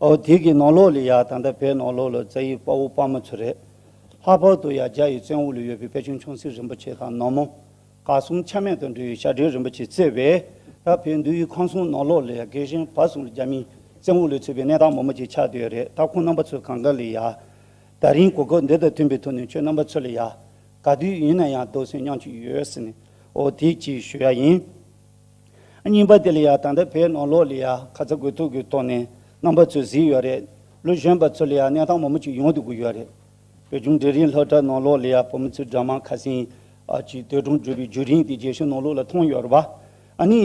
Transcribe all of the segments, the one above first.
ཨོ་དེ་གི་ནང་ལོགས་ལ་ཡང་ད་ལྟ་བའི་ནང་ལོགས་ལ་རྩ་ཡི་དཔའ་བོ་དཔའ་མོ་ཚོ་རེད། ལྷག་པར་དུ་ཡང་རྒྱ་ཡི་བཙན་འོག་ལ་ཡོད་པའི་དཔལ་ཆུང་ཆུང་སྲིད་རིན་པོ་ཆེ་དང་ནོར་མོ། དགའ་གསུམ་ཆ་མེད་དུ་འགྲོ་ཡི་ཞབས་འདྲེན་རིན་པོ་ཆེ་བརྩེ་བས་ད་བོད་འདུལ་ཡུལ་ཁང་སྲུང་ནང་ལོགས་ལ་ཡང་རྒས་ཞེན་བར་གསུམ་ལ་རྒྱ་མིའི་བཙན་འོག་ལས་ཚུད་པའི་གནས་སྟངས་མོ་མོ་ཅིག་ཆགས་སྡོད་རེད་ད་ཁོང་རྣམ་པ་ཚོ་གང་དགའ་ལ་ཡང། ད་རིང་གོ་སྐབས་འདི་དང་མཐུན་པའི་ཐོག་ནས་ཁྱོད་རྣམ་པ་ཚོ་ལ་ཡང། ག་དུས་ཡིན་ན་ཡང་རྡོ་སོལ་མཉམ་གཅིག་ཡོད་ཟེར་ནས་ཨོ་དེ་གཅིག་ཞུ་ཡ་ཡིན། རྙིང་པ་དེ་ལ་ཡང་ད་ལྟ་བོད་ནང་ལོགས་ལ་ཡང་ཁ་ཚ་དགོས་གཏུགས་ཀྱི་ཐོག་ནས་རྣམ་པ་ཚོས་གཟིགས་ཡོད་རེད། ལོ་གཞོན་པ་ཚོ་ལ་ཡང་གནས་སྟངས་མང་པོ་ཅིག་ཡོང་དུ་གི་ཡོད་རེད། བོད་ལྗོངས་འབྲས་རིན་ལྷོ་བྲག་ནང་ལོགས་ལ་ཡང་བོད་མི་ཚོས་དགྲ་མང་ཁ་སེང་གིས་དུད་གྲོང་བསྒྲུབས་པའི་རྒྱུ་རིན་དེ་རྒྱལ་ཤུལ་ནང་ལོགས་ལ་ཐོན་ཡོད་རེད་བ། ཨ་ནི།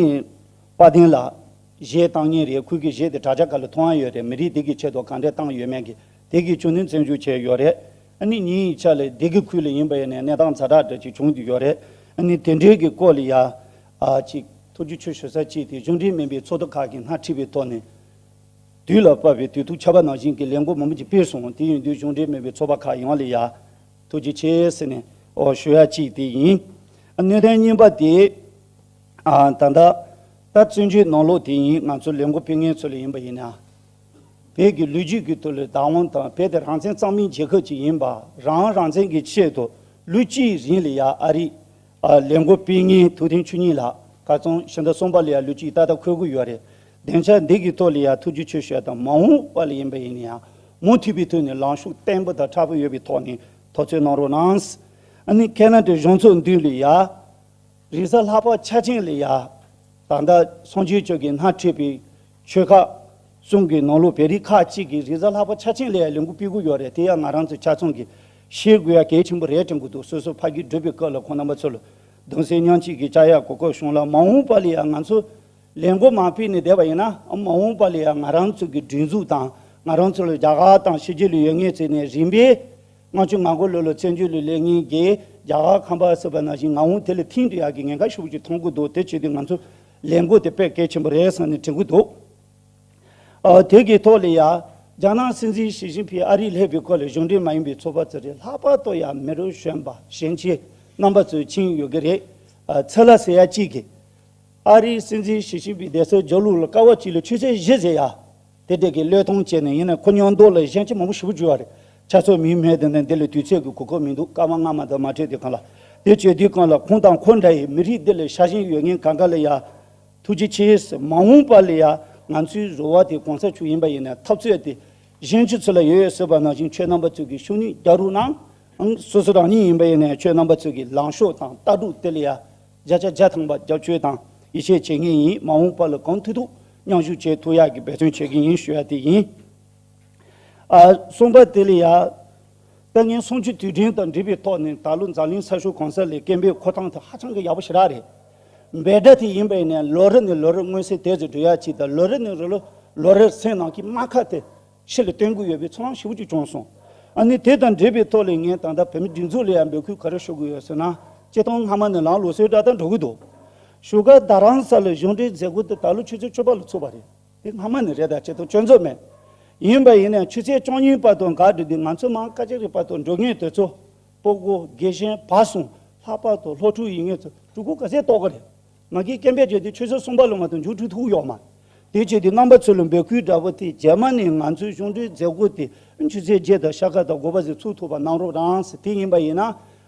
དཔའ་ལྡན་ལགས། གཞས་བཏང་ཉིན་རེའི་ཁུལ་གྱི་གཞས་དེ་དྲ་རྒྱ་ག་ལ་ཐོའང་ཡོད་རེད་མི་རིགས་དེ་གི་ཆེད་དུ་གང་འདྲས་བཏང་ཡོད་མེད་གི་དེ་གི་ཆུ་ནུས་བཙན་བཞུགས་བྱས་ཡོད་རེད། ཨ་ནི་ཉིན་ཡི་ཆ་ལ་དེ་གི་ཁུལ་ལ་ཡིན་པ་ཡིན་ནའི་གནས་སྟངས་ཚ་དྲག་དྲག་ཅིག་བྱུང་དུ་ཡོད་རེད། ཨ་ནི་དེ་འདྲའི་གི་སྐོར་ལ་ཡང་ཨ་གཅིག་ཐུགས་རྒྱུད་ཆོས་ཞུ་ས་གཅིག་དེ་གཞུང་འབྲེལ་མིན་པའི་ཚོགས་འདུ་ཁག་གིས་སྣ་ཁྲིད་པའི་ཐོག་ནས། དུས་ལ་བབ་པའི་དུས་ཐུགས་ཆགས་པ་ནང་བཞིན་གྱི་ལས་འགོ་མང་པོ་ཅིག་སྤེལ་སོང་དེ་ཡིན་དུས་གཞུང་འབྲེལ་མིན་པའི་ཚོགས་པ་ཁག་ཡོང་ལེ་ཡ། ཐུགས་རྒྱུད་ཆེ་ཟེར་ནས་ཨོ་ཞུ་ཡ་གཅིག་དེ་ཡིན། གནད་དོན་གཉིས་པ་དེ། ད་ལྟ་བཙན་བྱོལ་ནང་ལོག་དེ་ཡིན་ང་ཚོ་ལས་འགོ་སྤེལ་མཁན་ཚོ་ལས་ཡིན་པ་ཡིན་ན། བོད་ཀྱི་ལོ་རྒྱུས་ཀྱི་དུ་ལོའི་བདག་དབང་དང་བོད་དེ་རང་བཙན་གཙང་མིན་རྒྱལ་ཁབ་ཅིག་ཡིན་པ་རང་རང་བཙན་གྱི་ཆེད་དུ་ལོ་གཅིག་རིང་ལེ་ཡ་ཨ་རིས་ལས་འགོ་སྤེལ་ངེས་ཐུགས་ཐན་ཆུ་གཉིས་ལགས་ག་ཚང་ཤི་འདྲ་སོང་པ་ལ་ཡང་ལུས་གཅིག་ཏག་ཏག་འཁོད་དགོས་ཡོད་རེད་བདེན་ཆ་འདི་གི་ཐོག་ལ་ཡང་ཐུགས་རྗེ་ཆེ་ཞུ་ཡ་དང་མ་འོངས་པ་ལ་ཡིན་པ་ཡིན་ན་ཡང་མུ་མཐུད་པའི་ཐོག་ནས་ལངས་ཤུགས་བརྟན་པོ་དང་ཁྲ་པོ་ཡོད་པའི་ཐོག་ནས་ཐོག་འཚོལ་གནང་རོགས་གནང། ཨནི་ཁེ་ན་ཏྲའི་གཞུང་ཚོགས་མདུན་ལ་ཡ། རིག་གསར་ལྷག་པ་ཆ་ཅན་ལ་ཡ། ད་ལྟ་སངས་རྒྱས་ཆོས་ཀྱི་སྣ་ཁྲིད་པའི། ཆོལ་ཁ། གསུམ་གྱི་ནང་ལོ་བེ་རིགས་ཁག་གཅིག་གིས་རིག་གསར་ལྷག་པ་ཆ་ཆེན་ལས་ལས་འགུལ་སྤེལ་གི་ཡོད་རེད་དེ་ཡང་ང་རང་ཚོའི་ཆ་ཚང་གིས་ཤེས་དགོས་ཡ་གལ་ཆེན་པོ་རེད་དྲན་གི་འདུག་སོ་སོ་ཕ་གི་སྒྲུབ་པའི་སྐབས་ལ་ཁོང་རྣམ་པ་ཚོ་ལ་གདུང་སེམས་མྱང་ཆེད་ཀྱི་བཅར་ཡག་གོ་སྐབས་བྱུང་ལ་མ་འོངས་པ་ལ་ཡང་ང་ཚོ་ལས་འགོ་མ་སྤེལ་ནས་བསྡད་པ་ཡིན་ནའང་མ་འོངས་པ་ལ་ཡང་ང་རང་ཚོ་གི་སྒྲིག་འཛུགས་དང་ང་རང་ཚོ་ལ་རྒྱ་གར་དང་ཕྱི་རྒྱལ་ལ་ཡོད་ངེས་ཟེར་ནས་རིམ་པས་ལྔ་བཅུ་ང་དགུ་ལོ་ལ་བཙན་བྱོལ་ལ་ལས་ངན་རྒྱལ་རྒྱ་གར་ཁམས་པ་ཟེར་པ་ནང་བཞིན་ང་འོང་དེ་ལ་ཐིང་དུ་ཡག་གི་ངན་ཁ་ཤུགས་ཀྱིས་མཐོང་གི་འདུག་དེ་བྱས་དུས་ང་ཚོ་ལས་འགུལ་དེ་པས་གལ་ཆེན་པོ་རེད་བསམ་ནས་དྲན་གི་འདུག་དེ་གི་ཐོག་ལས་ཡར་རྒྱ་ནག་སྲིད་འཛིན་ཞི་ཅིན་ཕིས་ཨ་རིའི་ལྷའི་བུའི་སྐོར་ལས་གཞུང་འབྲེལ་མ་ཡིན་པའི་ཚོགས་པ་ཚོ་རེ་ལྷག་པར་དུ་ཡང་མི་རུ་གཞོན་པ་ཞན་ཆའི་རྣམ་པ་ཚོས་ཕྱིན་ཡོད་ཀྱི་རེད། ཚེ་ལ་ཟེར་ཡ་གཅིག་གིས་ཨ་རིའི་སྲིད་འཛིན་ཞི་ཅིན་ཕིའི་བསྡད་སའི་ཇོ་ལུགས་ལ་ཀ་བ་གཅིག་ལས་ཆུ་ཚད་བཞི་ཟེར་ཡ། དེ་སྡེ་དགེ་བློས་ཐོང་བྱས་ནས་ཡིན་ན་ཁོ་ཉོག་མདོག་ལ་ཞེན་ཆེ་མང་པོ་ཞུ་གི་འཇུ་བ་རེད་ཆ་ཚོགས་མིའི་མེད་དེ་ནས་འདི་ལ་དུས་ཚོད་ཀྱི་གོ་སྐབས་མི་འདུག་སྐར་མ་ལྔ་མ་དག་མ་ཕྲད་དེ་གང་ལ་དེ་བྱོས་དུས་གང་ལ་ཁོང་དང་ཁོ་འདྲ་ཡི་མི་རིགས་འདི་ལ་ཤ་ཞེན་ཡོད་མཁན་ག་ག་ལ་ཡ། ཐུགས་རྗེ་ཆེ། མ་འོངས་པ་ལ་ཡ་ང་ཚོའི་རོལ་བ་དེ་གོང་ས་མཆོག་ཡིན་པ་ཡིན་ན་འཐབ་རྩོད་དེ་གཞན་གྱི་ཚུལ་ལ་ཡོད་ཡོད་ཟེར་བ་ནང་བཞིན་ཁྱོད་རྣམ་པ་ཚོས་ཀྱི་ཤུགས་ནི་རྒྱག་རུག་གནང། སོ་སོ་རང་ཉིད་ཡིན་པ་ཡིན་ན་ཁྱོད་རྣམ་པ་ཚོས་ཀྱི་ལངས་ཕྱོགས་དང་ལྟ་གྲུབ་དེ་ལ་ཡ། བརྒྱ་ཆ་བརྒྱ་ཐང་པ་རྒྱབ་སྐྱོར་དང་ཡིད་ཆེས་བྱེད་མཁན་ཡིན་མ་འོངས་པ་ལ་གང་ཐུག་ཐུག་མཉམ་ཞུགས་བྱེད་ཐུབ་ཡག་གི་འབད་བརྩོན་བྱེད་ཀྱི་ཡིན་ཞུ་ཡ་དེ་ཡིན། གསུམ་པ་དེ་ལས་ཡག། ལྟ་ངན་སུམ་ཅུ་དུས་དྲན་དང་འབྲེལ་བའི་ཐོག་ནས་ད་ལོ་འཛམ་གླིང་ས་ཕྱོགས་གང་ས་ལས་སྐད་འབོད་འཁོར་སྟངས་དེ་ཧ་ཅང་གི་ཡག་པོ་ཞེ་དྲག་རེད། འབད་སྒྲ་དེ་ཡིན་པས་ནས་ལོ་རེ་ནས་ལོ་རེར་མངོན་གསལ་དེ་ཚོ་འགྲུལ་ཡག་ཅིག་དང་ལོ་རེ་ནས་རོ་ལོ་ལོ་རེར་སེམས་ནང་གི་རྨ་ཁ་དེ་ཆེད་ལས་བསྟན་དགོས་ཡོད་པའི་ཚོང་ལམ་ཞིབ་ཅིག་བྱུང་སོང། ཨ་ནི་དེ་དང་འབྲེལ་བའི་ཐོག་ལས་ངན་ད་ལྟ་བོད་མི་སྒྲིག་འཛུགས་ལ་ཡང་འབོད་སྐུལ་ག་རེ་ཞུ་དགོས་ཡོད་ཟེར་ན། སྤྱི་སྟངས་སྔ་མ་ནས་ལངས་ལུགས་སྲོལ་འདྲ་ལྟར་འགྲོ་གི་འདུག་བཞུགས་སྒར་རྡ་རམ་ས་ལའི་གཞུང་འབྲེལ་མཛད་སྒོ་དེ་ད་ལོ་ཆུ་ཚོད་བཅུ་པ་ལ་ཚུགས་པ་རེད། དེ་སྔ་མ་ནས་རེད་ད་ཆེད་དུ་སྤྱོད་འཚོལ་མེད། ཡིན་པ་ཡིན་ནའང་ཆུ་ཚོད་བཅུ་གཉིས་པ་དང་འགག་སྒྲིལ་དེ་ང་ཚོའི་མང་དཀའ་ཅི་རིགས་པ་དང་འགྲོ་ངེས་དེ་ཚོ། སྤོ་སྒོ། དགེ་ཞན། བག་ཟུང། ལྷག་པར་དུ་སློབ་ཕྲུག་ཡིན་ངེས་ཚོས་སྤྲུལ་སྐུ་ག་ཚད་གཏོགས་ཀྱི་རེད། ང་རྒྱལ་སྐྱེན་པས་བརྗོད་དེ་ཆོས་ཕྱོགས་གསུམ་པ་ལོ་མ་དང་འབྱུང་འཕྲུལ་ཐུགས་གཡོག་མ། དེ་བྱས་ཏེ་རྣམ་པ་ཚོས་ལ་འབོད་སྐུལ་འདྲ་པོ་དེ་རྗེས་མ་ནས་ང་ཚོའི་གཞུང་འབྲེལ་མཛད་སྒོ་དེ་ཆུ་ཚོད་བརྒྱད་དང་ཤ་ཁ་དང་དགོ་པ་ཟིག་ཚུགས་ཐུབ་པ་གནང་རོགས་གནང་ཟེར་དེ་ཡིན་པ་ཡིན་ན་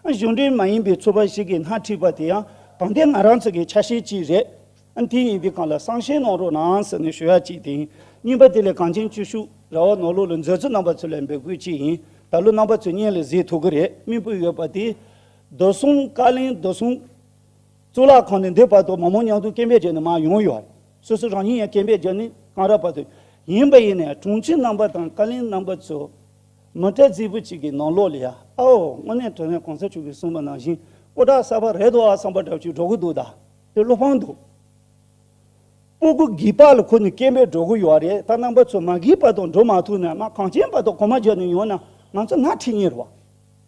གཞུང་འབྲེལ་མ་ཡིན་པའི་ཚོ་པ་ཞིག་གིས་སྣ་ཁྲིད་པ་དེ་ཡང་དང་དེ་ང་རང་ཚོ་གི་ཆ་ཤས་ཅིག་རེད། དེ་ཡིན་དུས་གང་ལ་གསང་བཤད་གནང་རོགས་གནང་ཟེར་ནས་ཞུ་ཡ་གཅིག་དེ་ཡིན། གཉིས་པ་དེ་ལས་གངས་ཅན་བཅུ་ཤུག་ར་བ་ནོར་ལུག་ལ་མཛད་ཚུལ་རྣམ་པ་ཚོས་ལ་འབོད་སྐུལ་གཅིག་ཡིན་ད་ལོ་རྣམ་པ་ཚོས་བརྙན་ལ་གཟིགས་ཐུབ་ཀི་རེད་སྨིན་སྤོས་ཡོད་པ་དེ། རྡོ་གསུམ་བཀའ་ལན་རྡོ་གསུམ། གཙུག་ལག་ཁང་ནས་འདས་བར་དུ་མ་མོ་ཉང་ཏུའུ་སྐྱེས་པའི་རྗེས་ནས་མ་ཡོང་ཡོད་རེད། སོ་སོ་རང་ཉིད་ཡང་སྐྱེས་པའི་རྗེས་ནས་གངས་ར་བར་དུ་ཡིན་པ་ཡིན་ནའི་དྲུང་ཆེ་རྣམ་པ་དང་བཀའ་ལན་རྣམ་པ་ཚོས་མི་ཏྲ་ཙིའི་བུ་གཅིག་གི་ནང་ལོག་ལ་ཡ་ཨའོ་དངོས་གནས་དྲ་བའི་གོང་ས་མཆོག་གིས་གསུངས་པ་ནང་བཞིན་སྐུ་དྲག་གསར་པ་རེད་དོ་ཨ་བསམ་པ་འདྲ་བཅུ་འགྲོ་གི་འདུག་ད་དེ་བློ་ཕངས་འདུག། སྤོ་སྒུག་བགྱིད་པ་ལ་ཁོ་ནི་སྐྱེས་པས་འགྲོ་གི་ཡོད་རེད་ད་རྣམ་པ་ཚོས་མ་བགྱིས་པ་དང་འགྲོ་མ་ཐུབ་ན་མ་གངས་ཅན་པ་དང་གོ་མ་རྒྱལ་ནས་ཡོང་ན་ང་ཚོ་ང་ཁྲིད་ཉེར་བ།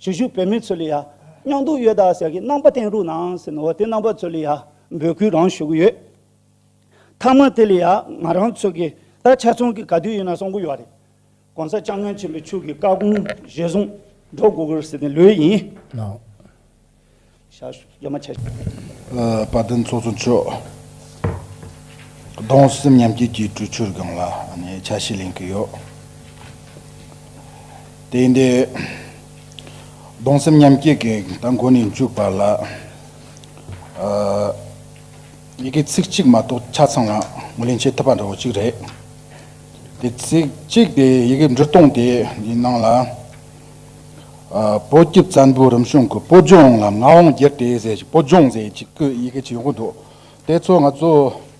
བྱེས་བཞུགས་བོད་མི་ཚོ་ལ་ཡང་སྙིང་སྡུག་ཡོད་ད་ཟེར་གི་རྣམ་པ་བསྟན་རུག་གནང་ཟེར་ནའོ་དེ་རྣམ་པ་ཚོ་ལ་ཡང་འབོད་སྐུལ་རང་ཞུ་གི་ཡོད། མཐའ་མ་དེ་ལ་ཡང་ང་རང་ཚོ་གི་ད་ཆ་ཚང་གི་ག་དུས་ཡིན་ན་གསོང་གི་ཡོད་རེད། གོང་ས་ལྕགས་སྨྱོན་ཆེན་པོའི་ཕྱུག་གི་བཀའ་དགོངས་གཞིར་བཟུང་འགྲོ་དགོས་གི་རེད་ཟེར་ནས་ལོས་ཡིན། དཔའ་བརྟན་ཚོགས་གཙོ་མཆོག་གདོང་སེམས་མཉམ་སྐྱེད་ཀྱི་གྲོས་ཆོད་སྒང་ལ་ཆ་ཤས་ལེན་གྱི་ཡོད། དེ་ཡིན་དུས། གདོང་སེམས་མཉམ་སྐྱེད་ཀྱི་ད་འགོ་ནས་མཇུག་བར་ལ། ཡི་གེ་ཚིག་གཅིག་མ་གཏོགས་ཆ་ཚང་ངོས་ལེན་བྱེད་ཐུབ་པ་འདྲ་བོ་གཅིག་རེད། དེ་ཚིག་གཅིག་དེ་ཡི་གེ་འབྲི་སྟངས་དེའི་ནང་ལ། པོ་སྐྱིད་བཙན་པོའི་རིམ་བྱོན་གྱི་སྤོ་ལྗོངས་ལ་ངག་དབང་རྒྱལ་གྲས་ཟེར་ཞིང་སྤོ་ལྗོངས་ཟེར་ཡི་གེ་ཡི་གེ་ཇི་མགོ་འདོགས་དེ་ཚོ་ང་ཚོ་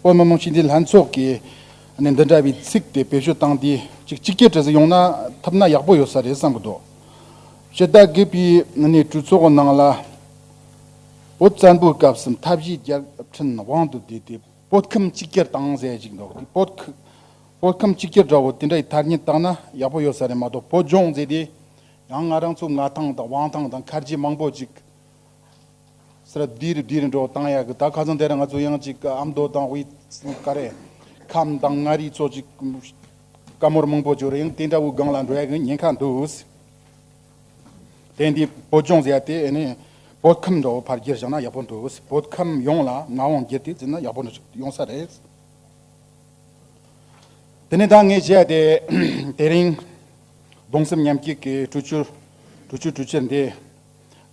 བོད་མི་མང་སྤྱི་འཐུས་ལྷན་ཚོགས་ཀྱི་ནས་འདི་འདྲ་བའི་ཚིག་དེ་བེད་སྤྱོད་བཏང་དེ་ཅིག་གཅིག་གྱེར་གྲས་ཡོང་ན་ཐུབ་ན་ཡག་པོ་ཡོད་ས་རེད་བསམ་གྱི་འདུག་སྤྱི་ཟླ་བརྒྱད་པའི་ནས་གྲོས་ཚོགས་ནང་ལ་པོ་བཙན་པོའི་སྐབས་སུ་མཐའ་བཞི་རྒྱལ་ཕྲན་དབང་དུ་བསྡུས་ཏེ་པོ་ཁིམ་གཅིག་གྱེར་བཏང་ཟེར་ཞིག་འདུག་དེ་པོ་བོད་ཁམས་གཅིག་གྱུར་འདྲ་བོ་དེ་འདྲ་ཡི་ཐར་ཉེན་བརྟག་ན་ཡག་པོ་ཡོད་ས་རེད་མ་གཏོགས་བོད་ལྗོངས་མཛེས་དེ་ཡང་ང་རང་ཚོ་ང་ཐང་དང་ཝང་ཐང་དང་མཁར་རྗེ་མང་པོ་ཅིག་ཟེར་ར་བསྡུས་རེ་བསྡུས་རེ་འགྲོ་བཏང་ཡག་གི་ད་ག་ཚང་དེ་ར་ང་ཚོ་ཡང་ཅིག་ཨ་མདོ་དང་དབུས་ཀ་རེ་ཁམས་དང་མངའ་རིས་ཚོ་ཅིག་བཀའ་མོར་མང་པོ་བྱོས་ར་ཡང་དེ་འདྲ་བོའི་སྒང་ལ་འགྲོ་ཡག་གི་ཉེན་ཁ་འདུག་དེ་འདི་བོད་ལྗོངས་མཛེས་དེ་ཨེ་ནས་བོད་ཁམས་འདྲ་བོ་ཕར་བསྒྱུར་བཞག་ན་ཡག་པོ་འདུག་བོད་ཁམས་ཡོངས་ལ་ངག་དབང་བསྒྱུར་དེ་བཙུགས་ན་ཡག་པོ་ཡོང་ས་རེད། དེ་ནས་ད་ངས་བཤད་དེ། དེ་རིང། གདུང་སེམས་མཉམ་སྐྱེད་ཀྱི་གྲུ་ཆུ། གྲུ་ཆུ་གྲུ་ཆུ་འདི།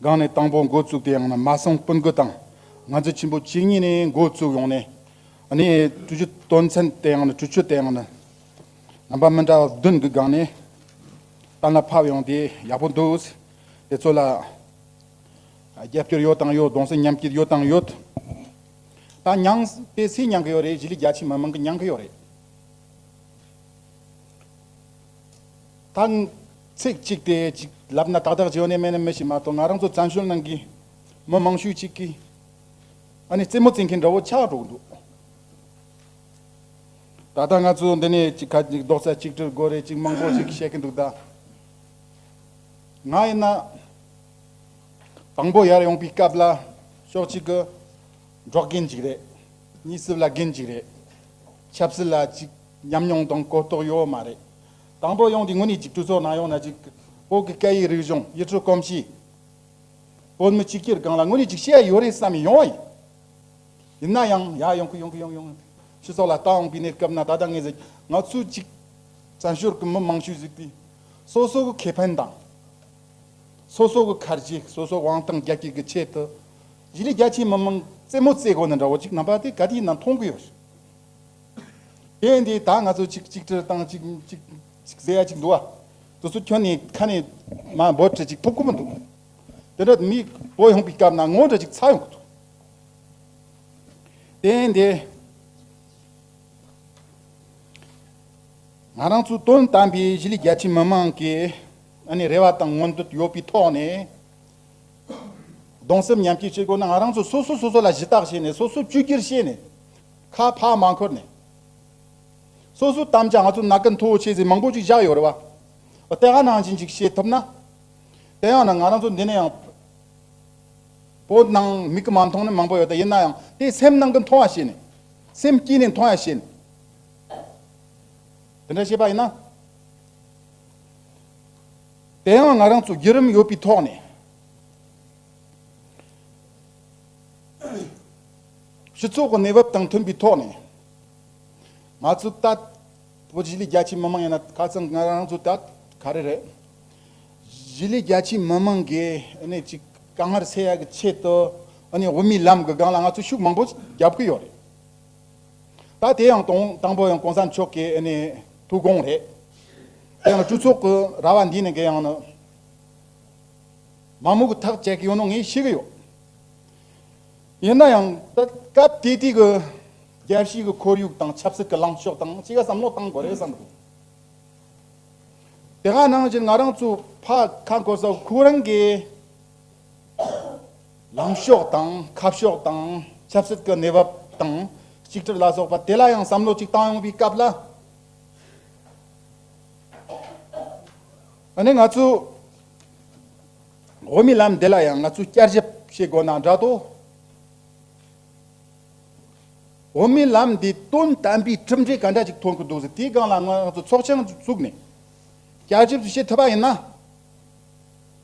སྒང་ནས་དང་པོ་འགོ་བཙུགས་དེ་ཡང་ན་མ་སངས་སྤུན་དགུ་དང་ང་ཚོ་ཆེན་པོ་བཅུ་གཉིས་ནས་འགོ་བཙུགས་ཡོང་ནས། ནས་གྲུ་ཆུ་དོན་ཚན་དེ་ཡང་ན་གྲུ་ཆུ་དེ་ཡང་ན། རྣམ་པ་མི་འདྲ་བ་བདུན་གྱི་སྒང་ནས། གཏན་ལ་ཕབ་ཡོང་དེ་ཡག་པོ་འདུག། དེ་ཚོ་ལ། རྒྱབ་སྐྱོར་ཡོད་དང་ཡོད་གདུང་སེམས་མཉམ་སྐྱེད་ཡོད་དང་ཡོད། དང་མྱང། པའི་ཚེ་མྱང་གི་ཡོད་རེད་གཞིས་ལུས་རྒྱ་ཆེ་མི་མང་གི་མྱང་གི་ཡོད་རེད། དང། ཚིག་གཅིག་དེ་གཅིག་ལབ་ན་ཏག་ཏག་ཇེའུ་ནས་མེ་ནས་མི་ཞིག་མ་གཏོགས་ང་རང་ཚོ་བཙན་བྱོལ་ནང་གི་མི་མང་ཤོས་གཅིག་གིས་ཨ་ནི་རྩེད་མོ་རྩེད་མཁན་འདྲ་བོ་ཆགས་འགྲོ་གི་འདུག། ད་ལྟ་ང་ཚོ་འདི་ནས་གཅིག་ཁ་གཅིག་ལྡོག་ཚ་གཅིག་དྲིལ་དགོས་རེད་ཅིག་མང་པོ་ཞིག་བཤད་གི་འདུག་ད། ང་ཡིན་ན། དང་པོ་ཡར་ཡོང་པའི་སྐབས་ལ་ཕྱོགས་གཅིག་གི་འབྲོག་རྒན་གཅིག་རེད། གཉིས་སྲིབ་ལ་རྒན་གཅིག་རེད། ཆབ་སྲིད་ལ་གཅིག་ཉམས་མྱོང་དང་གོ་རྟོགས་ཡོད་མ་རེད། དང་པོ་ཡོང་དུས་དངོས་གནས་གཅིག་གྲོས་ཚོགས་ནང་ཡོང་ན་གཅིག་བོད་ཀྱི་སྐད་ཡིག་རིག་གཞུང་ཡུལ་གྲུ་གོམས་གཤིས། བོད་མི་སྤྱི་སྐྱིར་སྒང་ལ་དངོས་གནས་གཅིག་བྱས་ཡོད་རེད་བསམ་ཡོང་བ་ཡིན། ཡིན་ན་ཡང་ཡར་ཡོང་གི་ཡོང་གི་ཡོང་ཡོང། སྤྱི་ཚོགས་ལ་ལྟ་འོངས་པའི་གནས་སྐབས་ན་ད་ལྟ་ངས་ཟེར་ང་ཚོའི་གཅིག་བཙན་ཞོར་གྱི་མི་མང་ཤོས་ཟིག་དེ་སོ་སོ་གི་ཁེ་ཕན་དང། སོ་སོ་གི་ཁར་གྱི་སོ་སོའི་དབང་ཐང་རྒྱ་སྐྱེད་ཀྱི་ཆེད་དུ། གཞི་ལས་རྒྱ་ཆེའི་མི་མང་རྩེད་མོ་རྩེད་དགོས་ན་འདྲ་བོ་གཅིག་ནང་པ་དེ་ག་དེའི་ནང་མཐོང་གི་ཡོད་རེད། དེ་འདི་ད་ང་ཚོ་གཅིག་གཅིག་ཁྲིར་བཏང་གཅིག་གཅིག་གཅིག་བཟས་ཡ་གཅིག་འདུག་ཨ། དུས་ཚོད་ཁྱོན་ནས་ཁ་ནས་མ་འབོད་གྲི་གཅིག་ཐོབ་ཁོ་མི་འདུག་གི། དེ་འདྲ་མི་བོ་ཡོང་པའི་སྐབས་ན་ངོ་འདྲ་གཅིག་ཚ་ཡོང་གི་འདུག། དེ་འདི། ང་རང་ཚོའི་དོན་དམ་པའི་གཞི་ལས་རྒྱ་ཆེའི་མི་མང་གི། ཨ་ནེ་རེ་བ་དང་མངོན་འདོད་ཡོད་པའི་ཐོག་ནས། གདུང་སེམས་མཉམ་སྐྱེད་བྱེད་དགོས་ན་ང་རང་ཚོ་སོ་སོས་སོ་སོ་ལ་གཞི་བརྟག་བྱས་ནས་སོ་སོས་བཅོས་བསྒྱུར་བྱས་ནས། ཁ་ཕག་མ་འཁོར་ནས། སོ་སོའི་དམ་བཅའ་ང་ཚོ་ན་ཀུན་མཐོ་བོ་ཆེ་ཟེར་མང་པོ་ཅིག་བཞག་ཡོད་རེད་བ། དེ་ག་ནང་བཞིན་ཅིག་བྱེད་ཐུབ་ན། དེ་ཡང་ན་ང་རང་ཚོ་འདི་ནས་ཡང། བོད་ནང་མིག་གི་མ་མཐོང་ནི་མང་པོ་ཡོད་ད་ཡིན་ན་ཡང་དེ་སེམས་ནང་གི་མཐོང་བ་བྱས་ནས། སེམས་དཀྱིལ་ནས་མཐོང་ཡ་བྱས་ནས། དེ་འདྲ་བྱས་པ་ཡིན་ན། དེ་ཡང་ང་རང་ཚོ་བརྒྱུད་རིམ་ཡོད་པའི་ཐོག་ནས། སྤྱི་ཚོགས་ཀྱི་གནས་བབ་དང་མཐུན་པའི་ཐོག་ནས། ང་ཚོ་ད་ལྟ་གཞིས་ལུས་རྒྱ་ཆེའི་མི་མང་ཡིན་ན་ཁ་ཚང་ང་རང་ཚོ་ད་ལྟ་ག་རེ་རེད། གཞིས་ལུས་རྒྱ་ཆེའི་མི་མང་གི་གནས་ཀྱི་དཀའ་ངལ་སེལ་ཡག་གི་ཆེད་དུ། འོས་མིའི་ལམ་གྱི་སྒང་ལ་ང་ཚོ་ཤུགས་མང་པོ་རྒྱབ་ཀྱི་ཡོད་རེད། ད་དེ་ཡང་དང་དང་པོ་ཡང་གོང་ས་མཆོག་གི་ཐུགས་དགོངས་རེད། དེ་ཡང་སྤྲུལ་ཚོགས་ཀྱི་ར་བ་འདི་ནས་འགལ་ཡང་ནི། མ་མོ་གི་ཐག་བཅད་ཀྱི་ཡོད་ནོ་ངས་ཤེས་ཀྱི་ཡོད། ཡིན་ན་ཡང། སྐབས་དེ་དུས་ཀྱི་རྒྱལ་སྤྱིའི་གི་ཁོར་ཡུག་དང་ཆབ་སྲིད་ཀྱི་ལངས་ཕྱོགས་དང་ཅི་ག་བསམ་བློ་གཏང་དགོས་རེད་བསམ་འདུག། དེ་ག་ནང་བཞིན་ང་རང་ཚོའི་ཕ་ཁ་འཁོར་ས་ཁོ་རང་གི། ལངས་ཕྱོགས་དང་ཁ་ཕྱོགས་དང་ཆབ་སྲིད་ཀྱི་གནས་བབ་དང་གཅིག་གྱུར་ལ་སོགས་པ་དེ་ལ་ཡང་བསམ་བློ་གཅིག་བཏང་ཡོང་བའི་སྐབས་ལ་ཨ་ནི་ང་ཚོས་འོས་མི་ལམ་འདི་ལ་ཡང་ང་ཚོས་བསྐྱར་ཞིབ་བྱེད་དགོས་ན་འདྲ་ཏོ། འོས་མི་ལམ་འདི་དོན་དམ་པའི་གྲུབ་འབྲས་ག་འདྲ་ཞིག་ཐོན་གྱི་འདུག་ཟེར་དེའི་སྒང་ལ་ང་ཚོས་ཚོགས་ཆེན་བཙུགས་ནས་བསྐྱར་ཞིབ་བྱེད་ཐུབ་པ་ཡིན་ན།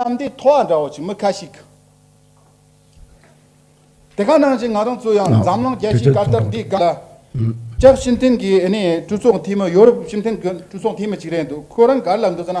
གཏམ་དེ་ཐོག་འདྲ་བོ་ཞིག་མི་ཁ་ཞིག་དེ་ག་ནང་བཞིན་ང་རང་ཚོ་ཡང་འཛམ་གླིང་རྒྱལ་སྤྱིའི་སྐབས་དར་འདི་ག་ལ་སྐྱབས་ཤིན་ཐིན་གྱི་ཨ་ནི་གྲོས་ཚོགས་འཐུས་མི་ཡོ་རུབ་ཤིན་ཐིན་གྱི་གྲོས་ཚོགས་འཐུས་མི་ཅིག་རེད་འདུག་ཁོ་རང་ག་ལ་འདུག་ཟེར་ན་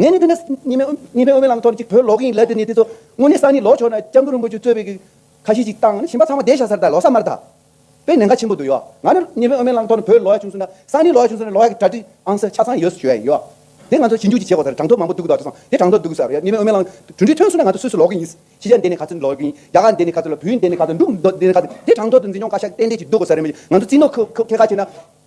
ངས་ནི་དེ་ནས་གཉིས་པའི་དབུ་མའི་ལམ་ཐོབ་ཅིག་བོད་ལོག་གི་ཡིན་ལབ་དེ་ནས་དེ་ཚོ་དངོས་གནས་ས་ནི་ལོག་ཆོག་ན་སྐྱབས་མགོན་རིན་པོ་ཆུ་གཙོས་པའི་གི་ཁ་ཤས་ཅིག་བཏང་ཞིམ་པ་ཚང་མ་བསྡད་ཤག་ཚར་ད་ལོག་ས་མར་ད་པའི་ནན་ཁ་ཆེན་པོ་འདུག་ཡོ་ང་ནི་གཉིས་པའི་དབུ་མའི་ལམ་ཐོབ་ནས་བོད་ལོག་ཡ་བྱུང་སུ་ན་ས་ནི་ལོག་ཡ་བྱུང་སུ་ན་ལོག་ཡ་གི་གྲ་ཏི་ཨང་ས་ཆ་ཚང་ཡོད་སུ་བྱོས་ཡ་ཡིན་ཡོ་དེ་ང་ཚོ་ཞིབ་འཇུག་ཅིག་བྱེད་དགོ་ས་རེད་དྲང་ཐོབ་མང་པོ་འདུག་གི་ད་དུ་སོང་དེ་དྲང་ཐོབ་འདུག་གི་ས་རེད་གཉིས་པའི་དབུ་མའི་ལམ་གྲུ་འདི་ཐོན་སུ་ན་ང་ཚོ་སུ་སུ་ལོག་གི་ཡིན་ཤེས་ཤ་འདས་ནས་ག་ཚོད་ལོག་གི་ཡིན་རྒྱ་གར་འདས་ནས་ག་ཚོད་ལོག་བོད་ཡིག་འདས་ནས་ག་ཚོད་འདུག་འདས་ནས་ག་ཚོད་དེ་དྲང་ཐོབ་ཏུ་འཛིན་སྐྱོང་ཁ་ཤ་གཏན་གཏན་ཅིག་འདུག་གོ་ས་རེད་མ་གཞི་ང་ཚོ་རྩིས་ནོར་ཁོ་ཁེ་ཁ་བྱས་ན།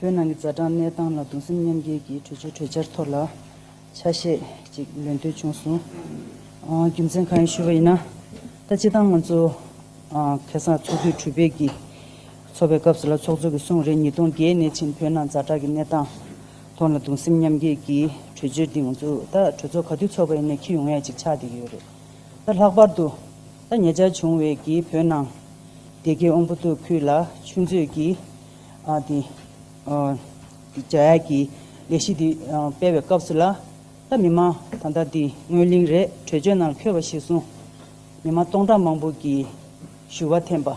བོད་ནང་གི་རྩ་གྲངས་གནས་སྟངས་ལ་གདུང་སེམས་མཉམ་སྐྱེད་ཀྱི་གྲོས་ཆོད་གྲོས་འཆར་ཐོག་ལ་ཆ་ཤས་ཅིག་ལེན་འདོད་བྱུང་སོང། རྒྱུ་མཚན་གང་ཡིན་ཞུས་པ་ཡིན་ན། ད་སྤྱི་དང་ང་ཚོ་ཁེ་སང་ཚོགས་དུས་དྲུག་པའི་གི་ཚོགས་པའི་སྐབས་སུ་ལ་ཚོགས་གཙོ་གི་གསུང་རེ་ཉིས་སྟོང་བརྒྱད་གནས་ཕྱིན་བོད་ནང་རྩ་གྲགས་ཀྱི་གནས་སྟངས་ཐོག་ལ་གདུང་སེམས་མཉམ་སྐྱེད་ཀྱི་གྲོས་ཆོད་འདི་ང་ཚོ་ད་གྲོས་ཚོགས་ག་དུས་ཚོགས་པ་ཡིན་ནས་ཁྱི་ཡོང་ཡ་ཅིག་ཆགས་བསྡད་ཀྱི་ཡོད་རེད། ད་ལྷག་པར་དུ་ད་ཉེ་ཆར་བྱུང་བའི་གི་བོད་ནང་སྡེ་དགེ་ཨོང་པོ་ཏོ་ཁུལ་ལ་ཆུ་མཛོད་ཀྱི། དེ། རྒྱ་ཡག་གི་ལས་གཞི་འདི་སྤེལ་བའི་སྐབས་སུ་ལ་ད་མི་མང་ད་ལྟ་འདི་སྔོན་གླིང་རས་བྲོས་ཇོ་ནང་འཁྱོལ་བ་ཞིག་སོང། མི་མང་སྟོང་ཕྲག་མང་པོ་གི་ཞུ་བ་འཐེན་པ།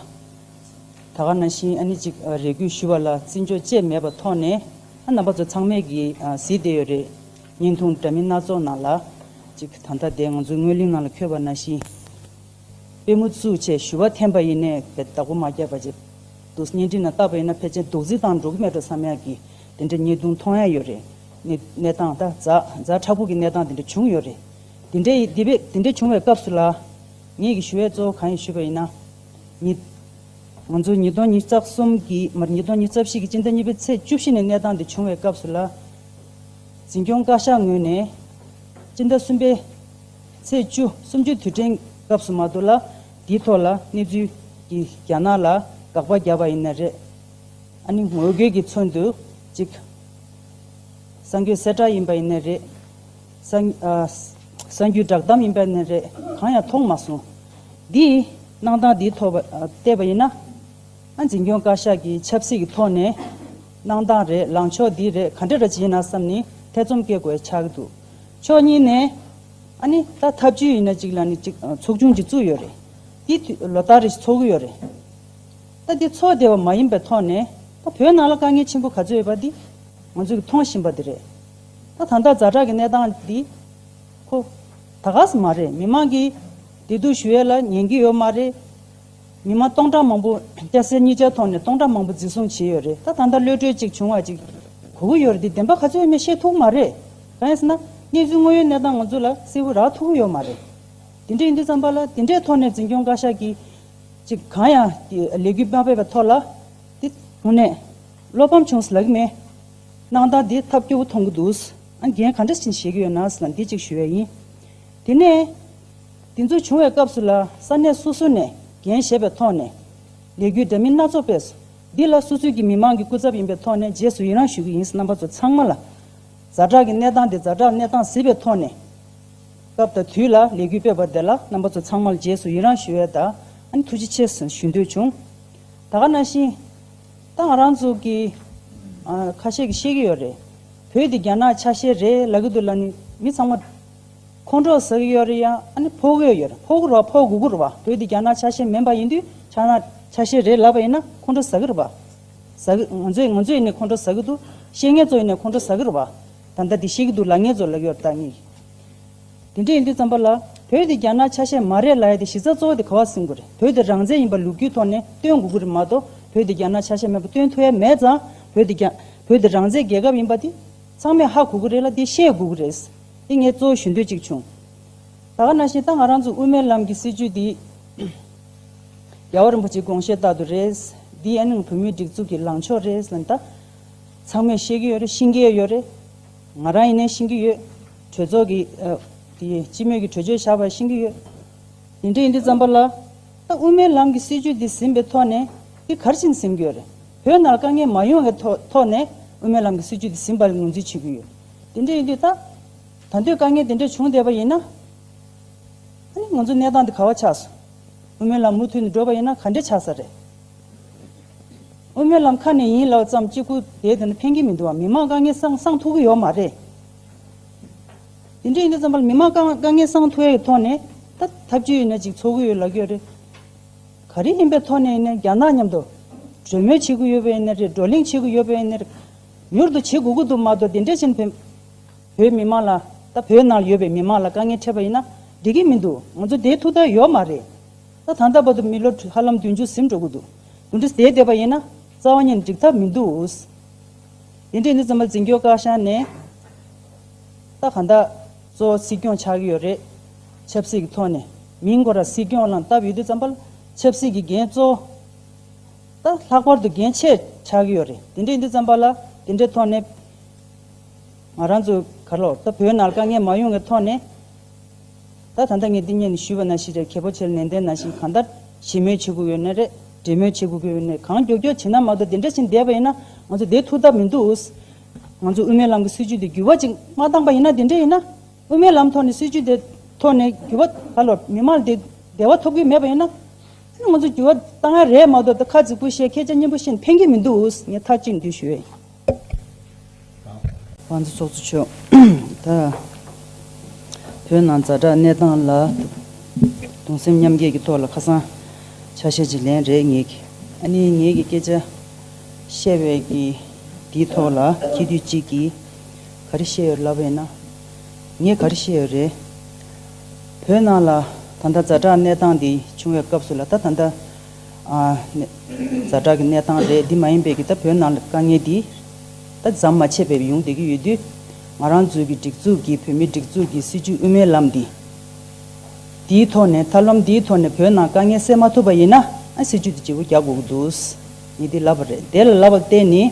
ད་ག་ན་བཞིན་ཨ་ནི་ཅིག་རེ་བསྐུལ་ཞུ་བ་ལ་བརྩི་འཇོག་བཅས་མེད་པ་ཐོག་ནས་ཨ་ནང་པ་ཚོ་ཚང་མས་གི་ཟིག་བསྡད་ཡོད་རེད། བརྙན་ཐུང་འདྲ་མིན་སྣ་ཚོགས་ནང་ལ་ཅིག་ད་ལྟ་འདས་ང་ཚོ་སྔོན་གླིང་ནང་ལ་འཁྱོལ་བ་ན་བཞིན། དཔེ་མུ་ཆུ་བཅས་ཞུ་བ་འཐེན་པ་ཡིན་ནས་བའི་བདག་པོ་མ་བརྒྱབ་པ་བརྗེད་འདུག་བརྙན་འཕྲིན་ན་བཏགས་པ་ཡིན་ན་ཕལ་ཆེར་རྡོག་རྫིས་བཏང་འགྲོ་གི་མེད་འགྲོ་བསམ་ཡག་གི་དེ་འདྲའི་ཉེས་རྡུང་མཐོང་ཡ་ཡོད་རེད་ནི་གནས་སྟངས་ད་གཟའ་གཟའ་ཕྲག་ཕུག་གི་གནས་སྟངས་དེ་འདྲ་བྱུང་ཡོད་རེད་དེ་འདྲའི་ཡི་དེ་བས་དེ་འདྲའི་བྱུང་བའི་སྐབས་སུ་ལ་ངེད་ཀྱི་ཞུ་བའི་གཙོ་བོ་གང་ཡིན་ཞུས་པ་ཡིན་ན་ཉིད། ང་ཚོ་ཉིས་སྟོང་ཉིས་རྩ་གསུམ་གྱི་མར་ཉིས་སྟོང་ཉིས་རྩ་བཞི་གི་སྤྱི་ཟླ་གཉིས་པའི་ཚེས་བཅུ་བཞི་ནས་གནས་སྟངས་དེ་བྱུང་བའི་སྐབས་སུ་ལ། འཛིན་སྐྱོང་བཀའ་ཤག་ངོས་ནས་སྤྱི་ཟླ་གསུམ་པའི། ཚེས་བཅུ་སུམ་ཅུ་དུས་དྲན་སྐབས་སུ་མ་གཏོགས་ལ་དེའི་ཐོག་ལ་གནས་ཚུལ་གྱི་རྒྱ་ནག་ལ་དགག་པ་རྒྱབ་པ་ཡིན་ན་རེད། ཨ་ནི་ངོ་རྒོལ་གྱི་ཚུན་དུ་ཅིག། གསར་འགྱུར་གསལ་བསྒྲགས་ཡིན་པ་ཡིན་ན་རེད། གསར་འགྱུར་བསྒྲགས་གཏམ་ཡིན་པ་ཡིན་ན་རེད་གང་ཡང་མཐོང་མ་སོང། འདིས་གནང་སྟངས་འདིའི་ཐོག་བལྟས་པ་ཡིན་ན། ཨ་འཛིན་སྐྱོང་བཀའ་ཤག་གིས་ཆབ་སྲིད་ཀྱི་ཐོག་ནས་གནང་སྟངས་རེད་ལངས་ཕྱོགས་འདི་རེད་ག་འདྲ་རེད་ཅེས་ཡིན་ན་བསམ་ནས་ཐེ་ཚོམ་སྐྱེ་དགོས་ཆགས་འདུག་ཕྱོགས་གཉིས་ནས། ཨ་ནི་ད་ཐབས་བྱུས་ཡིན་ན་ཅིག་ལ་ནི་ཅིག་ཚོགས་ཆུང་ཅིག་བཙུགས་ཡོད་རེད། དེ་དུས་ལོ་ལྟར་རེ་ཚོགས་གི་ཡོད་རེད། ད་དེ་ཚོགས་བདེ་བ་མ་ཡིན་པའི་ཐོག་ནས་ད་བོད་ནང་ལ་དཀའ་ངལ་ཆེན་པོ་ག་ཚོད་ཡོད་པ་འདི་ང་ཚོས་ཀྱི་མཐོང་བཞིན་པ་འདི་རེད། ད་ད་ལྟ་རྫ་བྲག་གི་གནས་སྟངས་འདི། ཁོ། ད་ག་ས་མ་རེད་མི་མང་གིས་བདེ་སྡུག་ཞུ་ཡས་ལ་ཉན་གི་ཡོད་མ་རེད། ཉི་མ་སྟོང་ཕྲག་མང་པོ་སྐྱ་སེར་གཉིས་ཆར་ཐོག་ནས་སྟོང་ཕྲག་མང་པོ་འཛིན་བཟུང་བྱས་ཡོད་རེད་ད་ད་ལྟ་གློད་གྲོལ་ཅིག་བྱུང་བ་ཅིག་གོ་གི་ཡོད་རེད་འདི་བདེན་པ་ག་ཚོད་ཡིན་མིན་ཤེས་ཐུག་མ་རེད་གང་ཡིན་ཟེར་ན་གནས་ཚུལ་དངོས་ཡོད་གནས་སྟངས་ང་ཚོ་ལ་གསལ་བོ་རག་ཐུག་གི་ཡོད་མ་རེད་དེ་འདྲ་ཡིན་དུས་བརྩམས་པ་ལ་དེ་འདྲའི་ཐོག་ནས་འཛིན་སྐྱོང་བཀའ་ཤག་གིས་ཅིག་གང་ཡང་ལས་འགུལ་མ་ཕེབས་པ་ཐོག་ལ་དེ་དགོངས་ནས་བློ་ཕམ་བྱུང་ཟེར་ལག་གི་མེད་གནང་སྟངས་དེ་ཐབས་སྐྱོ་བོ་མཐོང་གི་འདུག་ཨ་རྒན་ག་འདྲ་ཞིག་ནས་བཤད་ཀྱི་ཡོད་ན་ཟེར་ན་འདི་ཅིག་ཞུ་ཡ་ཡིན་དེ་ནས། འདི་ཚོ་བྱུང་བའི་སྐབས་སུ་ལ་ས་གནས་སོ་སོ་ནས་འགན་བཞེས་པའི་ཐོག་ནས། ལས་རྒྱུ་འདྲ་མིན་སྣ་ཚོགས་པས། འདི་ལ་སོ་སོའི་གི་མི་མང་གི་སྐུ་ཚབ་ཡིན་པའི་ཐོག་ནས་རྗེས་སུ་ཡི་རངས་ཞུ་གི་ཡིན་རྣམ་པ་ཚོ་ཚང་མ་ལ། རྫ་བྲག་གི་གནས་སྟངས་འདི་རྫ་བྲག་གནས་སྟངས་ཟིལ་པའི་ཐོག་ནས། སྐབས་དང་དུས་ལ་ལས་རྒྱུ་སྤེལ་བ་དེ་ལ་རྣམ་པ་ཚོ་ཚང་མ་ལ་རྗེས་སུ་ཡི་རངས་ཞུ་འོས་དང་ཨ་ཐུགས་རྗེ་ཆེ་ཞུ་འདོད་བྱུང། ད་ག་ན་བཞིན། ད་ང་རང་ཚོ་གི། ཁ་ཤས་ཀྱི་ཤེས་ཀྱི་ཡོད་རེད། བོད་འདི་རྒྱ་ནག་ཆ་ཤས་རེད་ལ་གི་འདུག་ལ་ནི་མི་ཚང་མ། ཁོང་ཁྲོ་ཟེར་གི་ཡོད་རེད་ཡ། ཨ་ནི་ཕོག་གི་ཡོད་རེད་ཕོག་གི་རོགས་ཕོག་དགོས་ཀྱི་རེད་བ། བོད་འདི་རྒྱ་ནག་ཆ་ཤས་མིན་པ་ཡིན་དུས་ཆ་ནག་ཆ་ཤས་རེད་ལབ་པ་ཡིན་ན་ཁོང་ཁྲོ་ཟ་གི་རེད་བ། ཟ་གི། ང་ཚོས་ང་ཚོས་ཡིན་ནའི་ཁོང་ཁྲོ་ཟ་གི་འདུག་ཤེས་ངེད་ཚོ་ཡིན་ནའི་ཁོང་ཁྲོ་ཟ་གི་རེད་བ། ད་ལྟ་དེ་ཤེས་གི་འདུག་ལ་ངེད་ཚོ་ལབ་ཡོད་རེད་ད་ངེད། དེ་འདྲ་ཡིན་དུས་བརྩམས་པ་ལ། བོད་འདི་རྒྱ་ནག་ཆ་ཤས་མ་རེད་ལ་ཡ་དེ་གཞི་རྩ་གཙོ་བོ་དེ་ག་བ་སེམས་དགོས་རེད་བོད་འདི་རང་བཙན་ཡིན་པ་ལུགས་རྒྱུའི་ཐོག་ནས་སྟོན་དགོས་ཀྱི་རེད་མ་གཏོགས་བོད་འདི་རྒྱ་ནག་ཆ་ཤས་མེད་པ་སྟོན་ཐུ་ཡ་མེད་ཙང་བོད་འདི་རྒྱ། བོད་འདི་རང་བཙན་རྒྱལ་ཁབ་ཡིན་པ་དེ་ཚང་མས་ཧ་གོ་གི་རེད་ལ་དེ་ཤེས་དགོས་ཀྱི་རེད། འདི་ངས་གཙོ་བོ་ཞུ་འདོད་ཅིག་བྱུང། ད་ག་ན་བཞིན་ད་ང་རང་ཚོ་དབུ་མའི་ལམ་གྱི་སྲིད་བྱུས་འདི། རྒྱལ་བ་རིན་པོ་ཆེའི་དགོངས་བཞེད་ལྟར་དུ་རེད། འདི་ཨེ་ནང་བོད་མིའི་སྒྲིག་འཛུགས་ཀྱི་ལངས་ཕྱོགས་རེད་ལན། ད་ཚང་མས་ཤེས་ཀྱི་ཡོད་རེད་ཤེས་ཀྱི་ཡོད་རེད། ང་རང་ཡིན་ནའི་ཤེས་ཀྱི་ཡོད། གྲོས་ཚོགས་ཀྱི། དེ་སྤྱི་མོས་ཀྱི་གྲོས་ཆོད་བཞག་པ་ཤེས་ཀྱི་ཡོད། དེ་འདྲ་ཡིན་དུས་བརྩམས་པ་ལ། ད་དབུ་མའི་ལམ་གྱི་སྲིད་བྱུས་འདི་ཟིན་པའི་ཐོག་ནས། འདི་གར་ཕྱིན་ཟིན་གྱི་ཡོད་རེད། བོད་ནང་དཀའ་ངལ་མ་ཡོང་བའི་ཐོག་ནས་དབུ་མའི་ལམ་གྱི་སྲིད་བྱུས་འདི་ཟིན་པ་ལས་ངོས་འཛིན་བྱེད་ཀྱི་ཡོད། དེ་འདྲ་ཡིན་དུས་ད། ད་འདོད་དཀའ་ངལ་དེ་འདྲ་བྱུང་བསྡད་པ་ཡིན་ན། ཨ་ནི་ང་ཚོའི་གནས་སྟངས་འདི་ག་བ་ཆགས་སོང། དབུ་མའི་ལམ་མུ་མཐུད་ནས་འགྲོ་པ་ཡིན་ན་ག་འདྲ་ཆགས་ས་རེད། དབུ་མའི་ལམ་ཁ་ནས་ཡིན་ལབ་ཙམ་གཅིག་པུ་དེའི་དོན་དུ་ཕན་གྱི་མི་འདུག་ཨ་མི་མང་དཀའ་ངལ་སང་སང་ཐུག་གི་ཡོད་མ་རེད། དེ་འདྲ་ཡིན་དུས་ཙམ་པ་མི་མང་དཀའ་དཀའ་ངལ་སང་ཐུག་ཡའི་ཐོག་ནས་ད་ཐབས་ཇུས་ཡིན་ན་ཅིག་འཚོལ་གི་ཡོད་ལབ་གི་ཡོད་རེད། ག་རེ་ཡིན་པའི་ཐོག་ནས་ཡིན་ན་རྒྱ་ནག་མཉམ་དུ་གྲོས་མོལ་བྱེད་གི་ཡོད་པ་ཡིན་ན་རེད་བགྲོ་གླེང་བྱེད་གི་ཡོད་པ་ཡིན་ན་རེད། མྱུར་དུ་བྱེད་དགོས་ཀྱི་འདུག་མ་གཏོགས་དེ་འདྲའི་ཕྱིར་བོད་བོད་མི་མང་ལ་ད་བོད་ནང་ཡོད་པའི་མི་མང་ལ་དཀའ་ངལ་འཕྲད་པ་ཡིན་ན་འགྲིག་གི་མི་འདུག་ང་ཚོ་དེའི་ཐུགས་ཐག་ཡོད་མ་རེད་ད་ད་ལྟ་བར་དུ་མི་ལོ་ཧ་ལམ་བདུན་ཅུ་ཟིན་འགྲོ་གི་འདུག་འདུ་འདྲི་བྱས་བསྡད་པ་ཡིན་ན་རྩ་བ་ཉིད་འགྲིག་ཐབས་མི་འདུག་དེ་འདྲས་འདི་ཙམ་པ་འཛིན་སྐྱོང་བཀའ་ཤག་ནས་ད་གང་ད་གཙོ་བོ་སྲིད་སྐྱོང་ཆགས་ཀྱི་ཡོད་རེད་ཆབ་སྲིད་ཀྱི་ཐོག་ནས་མིང་གོ་ར་སྲིད་སྐྱོང་ལང་སྟབས་ཡོད་དུས་ཙམ་པ་ལ་ཆབ་སྲིད་ཀྱི་འགན་གཙོ་བོ། ད་ལྷག་པར་དུ་རྒན་ཆེ་ཆགས་ཀྱི་ཡོད་རེད་དེ་འདྲས་འདི་བརྩམས་པ་ལ་དེ་འདྲས་ཐོག་ནས་ང་རང་ཚོའི་གར་ལོག་ད་བོད་ནང་དཀའ་ངལ་མ་ཡོང་གི་ཐོག་ནས་ད་ད་ལྟ་ངས་འདི་གཉིས་ནས་ཞུས་པ་ན་ཞིག་རེད་གལ་པོ་ཆེ་རེད་ནན་ཏན་ནང་བཞིན་གང་ལྟར་ཞི་མོལ་བྱེད་དགོས་ཀྱི་ཡོད་ནི་རེད་འབྲེལ་མོལ་བྱེད་དགོས་ཀྱི་ཡོད་ནི་གང་མགྱོགས་མགྱོགས་བྱེད་ན་མ་གཏོགས་དེ་འདྲས་བྱེད་བསྡད་པ་ཡིན་ན་ང་ཚོ་བསྡད་ཐུབ་ཐབས་མི་འདུག་ང་ཚོ་དབུ་མའི་ལམ་གྱི་སྲིད་བྱུས་འདི་འགྱུར་བ་ཅིག་མ་བཏང་པ་ཡིན་ན་དེ་འདྲས་ཡིན་ན། དབུ་མའི་ལམ་ཐོག་ནས་སྲིད་བྱུས་དེ་ཐོག་ནས་འགྱུར་བ་ད་ལོར་མི་མང་དེ་བདེ་བ་ཐོབ་གི་མེད་པ་ཡིན་ན། ང་ཚོ་འགྱུར་བ་གཏང་ཡ་རེད་མ་གཏོགས་ད་ཁ་རྫིག་པོ་བཤད་མཁས་ཅག་སྙན་པོ་བཤད་ཕན་གྱི་མི་འདུག་ངས་མཐའ་གཅིག་འདུས་ཞུ་བ་ཡིན། བང་སོ་ཚོགས་གཙོ་མཆོག་ད་བོད་ནང་རྫ་དྲག་གནས་སྟངས་ལ་དུང་སེམས་མཉམ་སྐྱེད་ཀྱི་ཐོག་ལ་ཁ་སང་ཆ་བཤད་ཅིག་ལན་རེད་ངས་ཀྱི་ཨ་ནི་ངས་ཀྱི་སྐད་ཆ་བཤད་བས་ཀྱི་འདིའི་ཐོག་ལ་ཁྱེད་དུས་གཅིག་གི། ག་རེ་བཤད་ཡོད་ལབ་ཡོད་ན། ངས་ག་རེ་བཤད་ཡོད་རེད། བོད་ནང་ལ་ད་ལྟ་རྫ་དྲག་གནས་སྟངས་འདི་བྱུང་བའི་སྐབས་སུ་ལ་ད་ད་ལྟ། རྫ་དྲག་གི་གནས་སྟངས་རེད་འདི་མ་ཡིན་པའི་གི་ད་བོད་ནང་ལ་དཀའ་ངལ་འདི། ད་ཟམ་མ་ཆད་པའི་ཡོང་བསྡད་ཀྱི་ཡོད་དུས། ང་རང་ཚོའི་གི་སྒྲིག་འཛུགས་ཀྱི་བོད་མིའི་སྒྲིག་འཛུགས་ཀྱི་སྲིད་བྱུས་དབུ་མའི་ལམ་འདི། འདིའི་ཐོག་ནས་ཐབས་ལམ་འདིའི་ཐོག་ནས་བོད་ནང་དཀའ་ངལ་སེལ་མ་ཐུབ་པ་ཡིན་ན། སྲིད་བྱུས་འདི་བརྗེ་བོ་རྒྱག་དགོས་ཀྱི་འདུག་ངས་འདི་ལབ་པ་རེད་དེ་ལ་ལབ་པར་བརྟེན་ནས།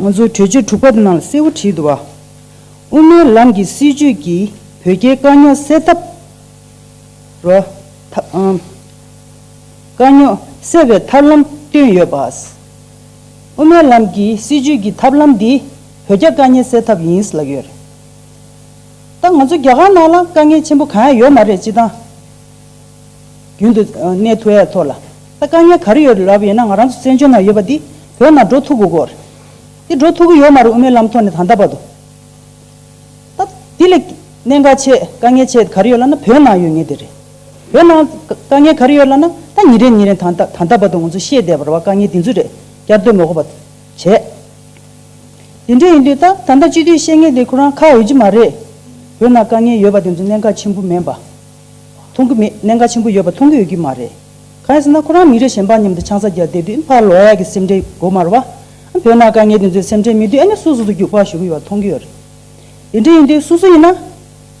ང་ཚོའི་གྲོས་ཆོད་དྲུག་པ་ནང་ལ་གསལ་བོ་བྲིས་འདུག་བ། དབུ་མའི་ལམ་གྱི་སྲིད་བྱུས་ཀྱིས་བོད་རྒྱའི་དཀའ་རྙོག་སེལ་ཐབས། རོ། ཐབས། དཀའ་རྙོག་སེལ་བའི་ཐབས་ལམ་བཏོན་ཡོད་པ། དབུ་མའི་ལམ་གྱི་སྲིད་བྱུས་ཀྱི་ཐབས་ལམ་འདི་བོད་རྒྱ་དཀའ་ཉེ་སེལ་ཐབས་ཡིན་ལབ་ཡོད་རེད། ད་ང་ཚོ་རྒྱ་གར་ནང་ལ་དཀའ་ངལ་ཆེན་པོ་གང་ཡང་ཡོད་མ་རེད་སྤྱི་སྟངས་རྒྱུན་དུ་གནས་ཐུ་ཡ་ཐོ་ལ་ད་དཀའ་ངལ་ག་རེ་ཡོད་རེད་ལབ་ཡོད་ན་ང་རང་ཚོ་བཙན་བྱོལ་ནང་ཡོད་པ་འདི་བོད་ནང་འགྲོ་ཐུ་གུ་གོ་རེད་འདི་འགྲོ་ཐུ་གུ་ཡོད་མ་རེད་དབུ་མའི་ལམ་ཐོག་ནས་ད་འདའ་བ་དུ་ད་འདི་ལས་གནད་འགག་ཆེ་དཀའ་ངལ་ཆེ་ག་རེ་ཡོད་ལབ་ན་བོད་ནང་ཡོད་ངེས་དེ་རེད་བོད་ནང་དཀའ་ངལ་ག་རེ་ཡོད་ལབ་ན་ད་ཉིན་རེ་ཉིན་རེ་ད་འདའ་ད་འདའ་བ་དུ་ང་ཚོ་ཤེས་བསྡད་པར་བ་དཀའ་ངལ་འདི་ཚོ་རེད་བསྐྱར་ཟློས་མོ་གོ་བ་དུ་བྱས་དེ་འདྲས་ཡིན་དུས་ད་ད་འདའ་སྤྱི་འཐུས་ཤེས་ངེས་དེ་ཁོ་རང་ཁ་ཡོད་ཀྱི་མ་རེད་བོད་ནང་དཀའ་ངལ་ཡོད་པ་དེ་ཚོ་གནད་འགག་ཆེན་པོ་མེད་པ། མཐོང་གི་མེད་གནད་འགག་ཆེན་པོ་ཡོད་པ་མཐོང་གི་ཡོད་ཀྱི་མ་རེད། གང་ཡིན་ཟེར་ན་ཁོ་རང་མི་རེ་གཞན་པ་མཉམ་དུ་ཆང་ས་རྒྱག་བསྡད་དུས་ཕར་ལོགས་ཀྱི་སེམས་ཁྲལ་གོ་མ་རུ་བ། བོད་ནང་དཀའ་ངལ་དེ་ཚོའི་སེམས་ཁྲལ་མི་དུས་ཨེ་ནས་སོ་སོ་དུ་རྒྱུག་པར་ཞུགས་གི་ཡོད་པ་མཐོང་གི་ཡོད་རེད། དེ་འདྲ་ཡིན་དུས་སོ་སོ་ཡིན་ན།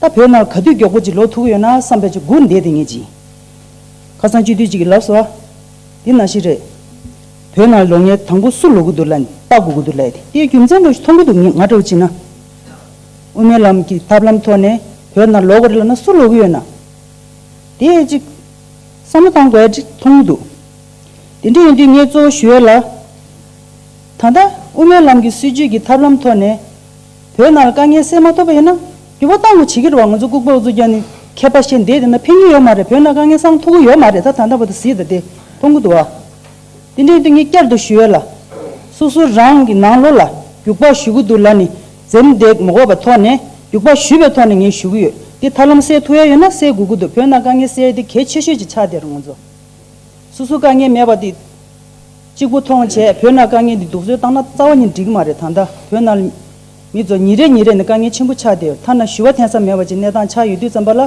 ད་བོད་ནང་ག་དུས་མགྱོགས་པོ་ཅིག་ལོག་ཐུག་གི་ཡོད་ན་བསམ་པའི་ཆུ་སྒུར་འདེད་དེ་ངེས་ཅིང། ཁ་སང་སྤྱི་འཐུས་གཅིག་གིས་ལབ་སོ། འདི་ནང་བཞིན་རེད། བོད་ནང་ལོ་ངའི་དང་པོ་སུ་ལོག་གི་འདུག་ལ་ལྟ་དགོས་ཀྱི་འདུག་ལ་དེའི་རྒྱུ་མཚན་ལོས་མཐོང་གི་འདུག་ང་འདྲ་བོ་ཅིག་ན། དབུ་མའི་ལམ་གྱི་ཐབས་ལམ་ཐོག་ནས་བོད་ནང་ལོག་གི་རེད་ལབ་ན་སུ་ལོག་གི་ཡོད་ན། དེ་ཅིག་བསམ་བློ་བཏང་དགོས་མཐོང་གི་འདུག་དེ་འདྲ་ཡིན་དུས་ངས་གཙོ་བོ་ཞུ་ཡོད་ལ། ད་ལྟ་དབུ་མའི་ལམ་གྱི་སྲིད་བྱུས་ཀྱི་ཐབས་ལམ་ཐོག་ནས་བོད་ནང་ལ་དཀའ་ངལ་སེལ་མ་ཐུབ་པ་ཡིན་ན་འགྱུར་བ་གཏང་དགོས་བྱེད་ཀྱི་རེད་བ་ང་ཚོ་ལྐུག་པ་འུ་ཚོ་རྒྱ་ནི་མཁས་པ་ཤེས་འདས་དེ་འདྲ་ཕན་གྱི་ཡོད་མ་རེད་བོད་ནང་དཀའ་ངལ་སང་ཐུག་གི་ཡོད་མ་རེད་ད་ད་ལྟ་བ་ད་ཟིས་ད་དེ་མཐོང་གི་འདུག་བ། དེ་འདྲའི་སྟེང་གི་བསྐྱར་དུ་ཞུ་བ་ལ། སོ་སོ་རང་གི་ནང་ལོགས་ལ་རྒྱུག་པ་ཞུ་གི་འདུག་ལ་ནི་འཛེམ་དེག་མི་འགོག་པའི་ཐོག་ནས་རྒྱུག་པ་ཞུས་པའི་ཐོག་ནས་ངས་ཞུ་གི་ཡོད་དེ་མཐར་ལམ་སེལ་ཐུབ་ཡ་ཡོད་ན་སེལ་དགོས་ཀྱི་འདུག་བོད་ནང་དཀའ་ངལ་སེལ་དེ་གལ་ཆེ་ཤོས་ཀྱི་ཆ་དེར་ང་ཚོ། སོ་སོ་དཀའ་ངལ་མེད་པ་དེ་གཅིག་པུ་མཐོང་བྱས་བོད་ནང་དཀའ་ངལ་འདི་སྡུག་བཟོད་བཏང་ན་རྩ་བ་ཉིད་འགྲིག་གི་མ་རེད་ད་ལྟ་བོད་ནང་མི་ཚོ་ཉིན་རེ་ཉིན་རེ་ནས་དཀའ་ངལ་ཆེན་པོ་ཆགས་བསྡད་ཡོད་མཐའ་ན་ཞུ་བ་འཐེན་ས་མེད་པ་ཅིག་གནས་སྟངས་ཆགས་ཡོད་དུས་རྩམ་པ་ལ་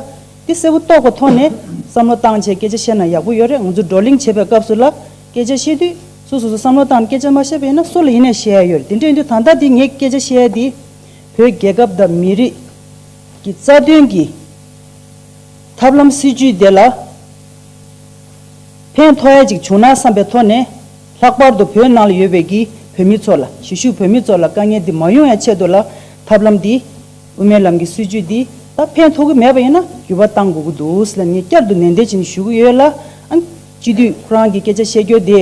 དེ་གསལ་བོ་རྟོགས་པ་ཐོག་ནས་བསམ་བློ་བཏང་རྗེས་སྐད་ཆ་བཤད་ན་ཡག་པོ་ཡོད་རེད་ང་ཚོ་བགྲོ་གླེང་བྱེད་པའི་སྐབས་སུ་ལ་སྐད་ཆ་བཤད་དུས་སུ་སོ་སོ་བསམ་བློ་བཏང་ནས་སྐད་ཆ་མ་བཤད་པ་ཡིན་ན་སུ་ལ་ཡིན་ནས་བཤད་ཡ་ཡོད་རེད་དེ་འདྲ་ཡིན་དུས་ད་ལྟ་དེ་ངས་སྐད་ཆ་བཤད་དེ་བོད་རྒྱལ་ཁབ་དང་མི་རིགས་ཀྱི་རྩ་དོན་གྱི་ཐབས་ལམ་སྲིད་ཇུས་དེ་ལ་ཕན་ཐོག་ཡ་གཅིག་བྱུང་ན་བསམ་པའི་ཐོག་ནས་ལྷག་པར་དུ་བོད་ནང་ལ་ཡོད་པའི་གི་བོད་མི་ཚོ་ལ་གཞིས་བཞུགས་བོད་མི་ཚོ་ལ་དཀའ་ངལ་འདི་མ་ཡོང་ཡ་ཆེད་དུ་ལ་ཐབས་ལམ་འདི། དབུ་མའི་ལམ་གྱི་སྲིད་བྱུས་འདི་ད་ཕན་ཐོགས་ཀྱི་མེད་པ་ཡིན་ན་འགྱུར་བ་གཏང་དགོས་ཀྱི་འདུག་ཟེར་ལ་ངས་བསྐྱར་དུ་ནན་ཏན་བྱས་ནས་ཞུ་གི་ཡོད་ལ། སྤྱི་འཐུས་ཁོ་རང་གིས་སྐད་ཆ་བཤད་རྒྱུ་དེ།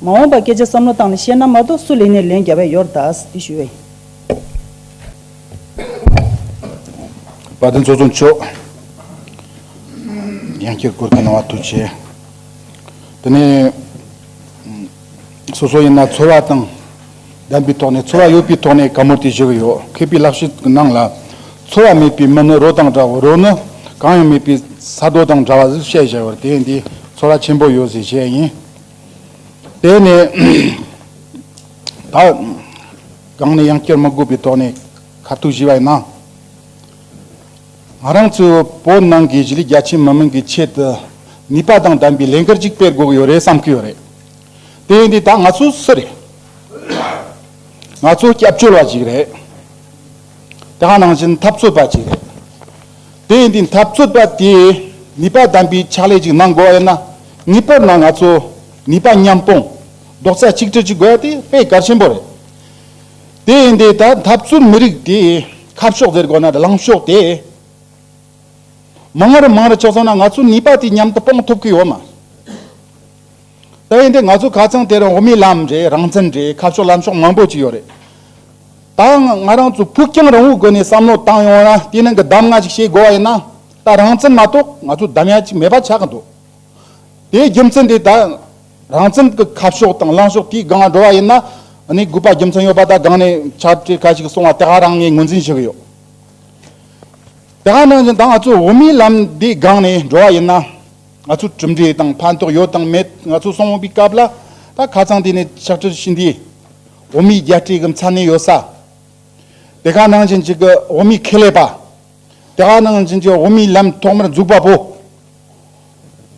མ་འོངས་པར་སྐད་ཆ་བསམ་བློ་བཏང་ནས་བཤད་ན་མ་གཏོགས་སུ་ལེན་ནས་ལན་རྒྱབ་ཡ་ཡོར་དྭགས་འདི་ཞུ་བ་ཡིན། བཀའ་བསྟན་གཙོ་བཟུང་མཆོག། ཡང་བསྐྱར་བཀུར་བསྟི་གནང་བ་ཐུགས་ཆེ། དེ་ནས། སོ་སོ་ཡིན་ན་འཚོ་བ་དང། བདམས་པའི་ཐོག་ནས་ཚོར་བ་ཡོད་པའི་ཐོག་ནས་དཀའ་མོ་དེ་བཞེས་ཀྱི་ཡོད་མཁས་པའི་ལག་ཤེས་ཀྱི་ནང་ལ། ཚོར་བ་མེད་པའི་མི་ནི་རོ་དང་འདྲ་བར་རོ་ནི་གང་ཡང་མེད་པའི་ས་རྡོ་དང་འདྲ་བ་ཟིག་བཤད་བཞག་པར་དེས་འདིས་ཚོར་བ་ཆེན་པོ་ཡོད་ཟེར་བྱས་ཡིན། དེ་ནས་ད་གང་ནས་ཡང་བསྐྱུར་མི་དགོས་པའི་ཐོག་ནས་ཁ་ཐུག་བཞེས་པ་ཡིན། ང་རང་ཚོའི་བོད་ནང་གི་གཞིས་ལུས་རྒྱ་ཆེའི་མི་མང་གི་ཆེད་དུ་ནུས་པ་དང་ལྡན་པའི་ལས་འགུལ་ཅིག་སྤེལ་དགོས་ཀྱི་ཡོད་རེད་བསམ་གྱི་ཡོད་རེད། དེ་འདི་ད་ང་ཚོ་སུ་རེད། ང་ཚོ་སྐྱབས་བཅོལ་བ་ཞིག་རེད། དེ་ཧ་ནང་བཞིན་འཐབ་རྩོད་པ་ཞིག་རེད། དེ་འདི་འཐབ་རྩོད་པ་དེས་ནུས་པ་ལྡན་པའི་ཕྱག་ལས་ཅིག་གནང་དགོས་ཡོད་ན་ངེས་པར་ན་ང་ཚོ་ནུས་པ་མཉམ་སྤུངས་རྡོག་རྩ་གཅིག་སྒྲིལ་བྱེད་དགོས་པ་དེ་དཔེ་དཀར་ཆེན་པོ་རེད། དེ་འདི་ད་འཐབ་རྩོད་མི་རིགས་དེ་ཁ་ཕྱོགས་ཟེར་དགོས་ན་ལངས་ཕྱོགས་དེ་མང་རེ་མང་རེ་ཆགས་སོང་ན་ང་ཚོ་ནུས་པ་དེ་མཉམ་དུ་སྤུངས་ཐུབ་ཀྱི་ཡོད་མ་ད་ཡིན་དུས་ང་ཚོ་ག་ཚང་དེ་རིང་འོག་མིའི་ལམ་རེད་རང་བཙན་རེད་ཁ་ཕྱོགས་ལམ་ཕྱོགས་མང་པོ་ཅིག་ཡོད་རེད། ད་ང་རང་ཚོ་ཕུགས་རྒྱང་རིང་བོའི་སྒོ་ནས་བསམ་བློ་བཏང་ཡོང་ན་དེ་ནང་གི་གདམ་ང་ཅིག་བྱེད་དགོས་བ་ཡིན་ན་ད་རང་བཙན་མ་གཏོགས་ང་ཚོ་གདམ་ཡ་ཅིག་མེད་པ་ཆགས་ཀྱི་འདུག་དེའི་རྒྱུ་མཚན་དེ་ད་རང་བཙན་གྱི་ཁ་ཕྱོགས་དང་ལམ་ཕྱོགས་དེའི་སྒང་འགྲོ་བ་ཡིན་ན་ནི་དགོས་པ་རྒྱུ་མཚན་ཡོད་པ་ད་སྒང་ནས་ཕྱག་བྲིས་ག་ཅིག་སོང་བ་དེ་ག་རང་ངས་ངོས་འཛིན་བྱེད་ཀྱི་ཡོད། དེ་ག་ནང་བཞིན་ད་ང་ཚོ་འོག་མིའི་ལམ་དེའི་སྒང་ནས་འགྲོ་བ་ཡིན་ན། ང་ཚོ་གྲུབ་འབྲས་དང་ཕན་ཐོགས་ཡོད་དང་མེད་ང་ཚོ་སོང་བའི་སྐབས་ལ་ད་ཁ་ཚང་དེ་ནས་ཕྱག་ཁྲིར་ཕྱིན་དུས་འོ་མའི་རྒྱ་སྤྲད་གི་མཚན་གནས་ཡོད་ས་དེ་ག་ནང་བཞིན་གྱི་འོ་མའི་ཁེ་ལས་པ་དེ་ག་ནང་བཞིན་གྱི་འོ་མའི་ལམ་ཐོག་མར་འཛུགས་པ་པོ་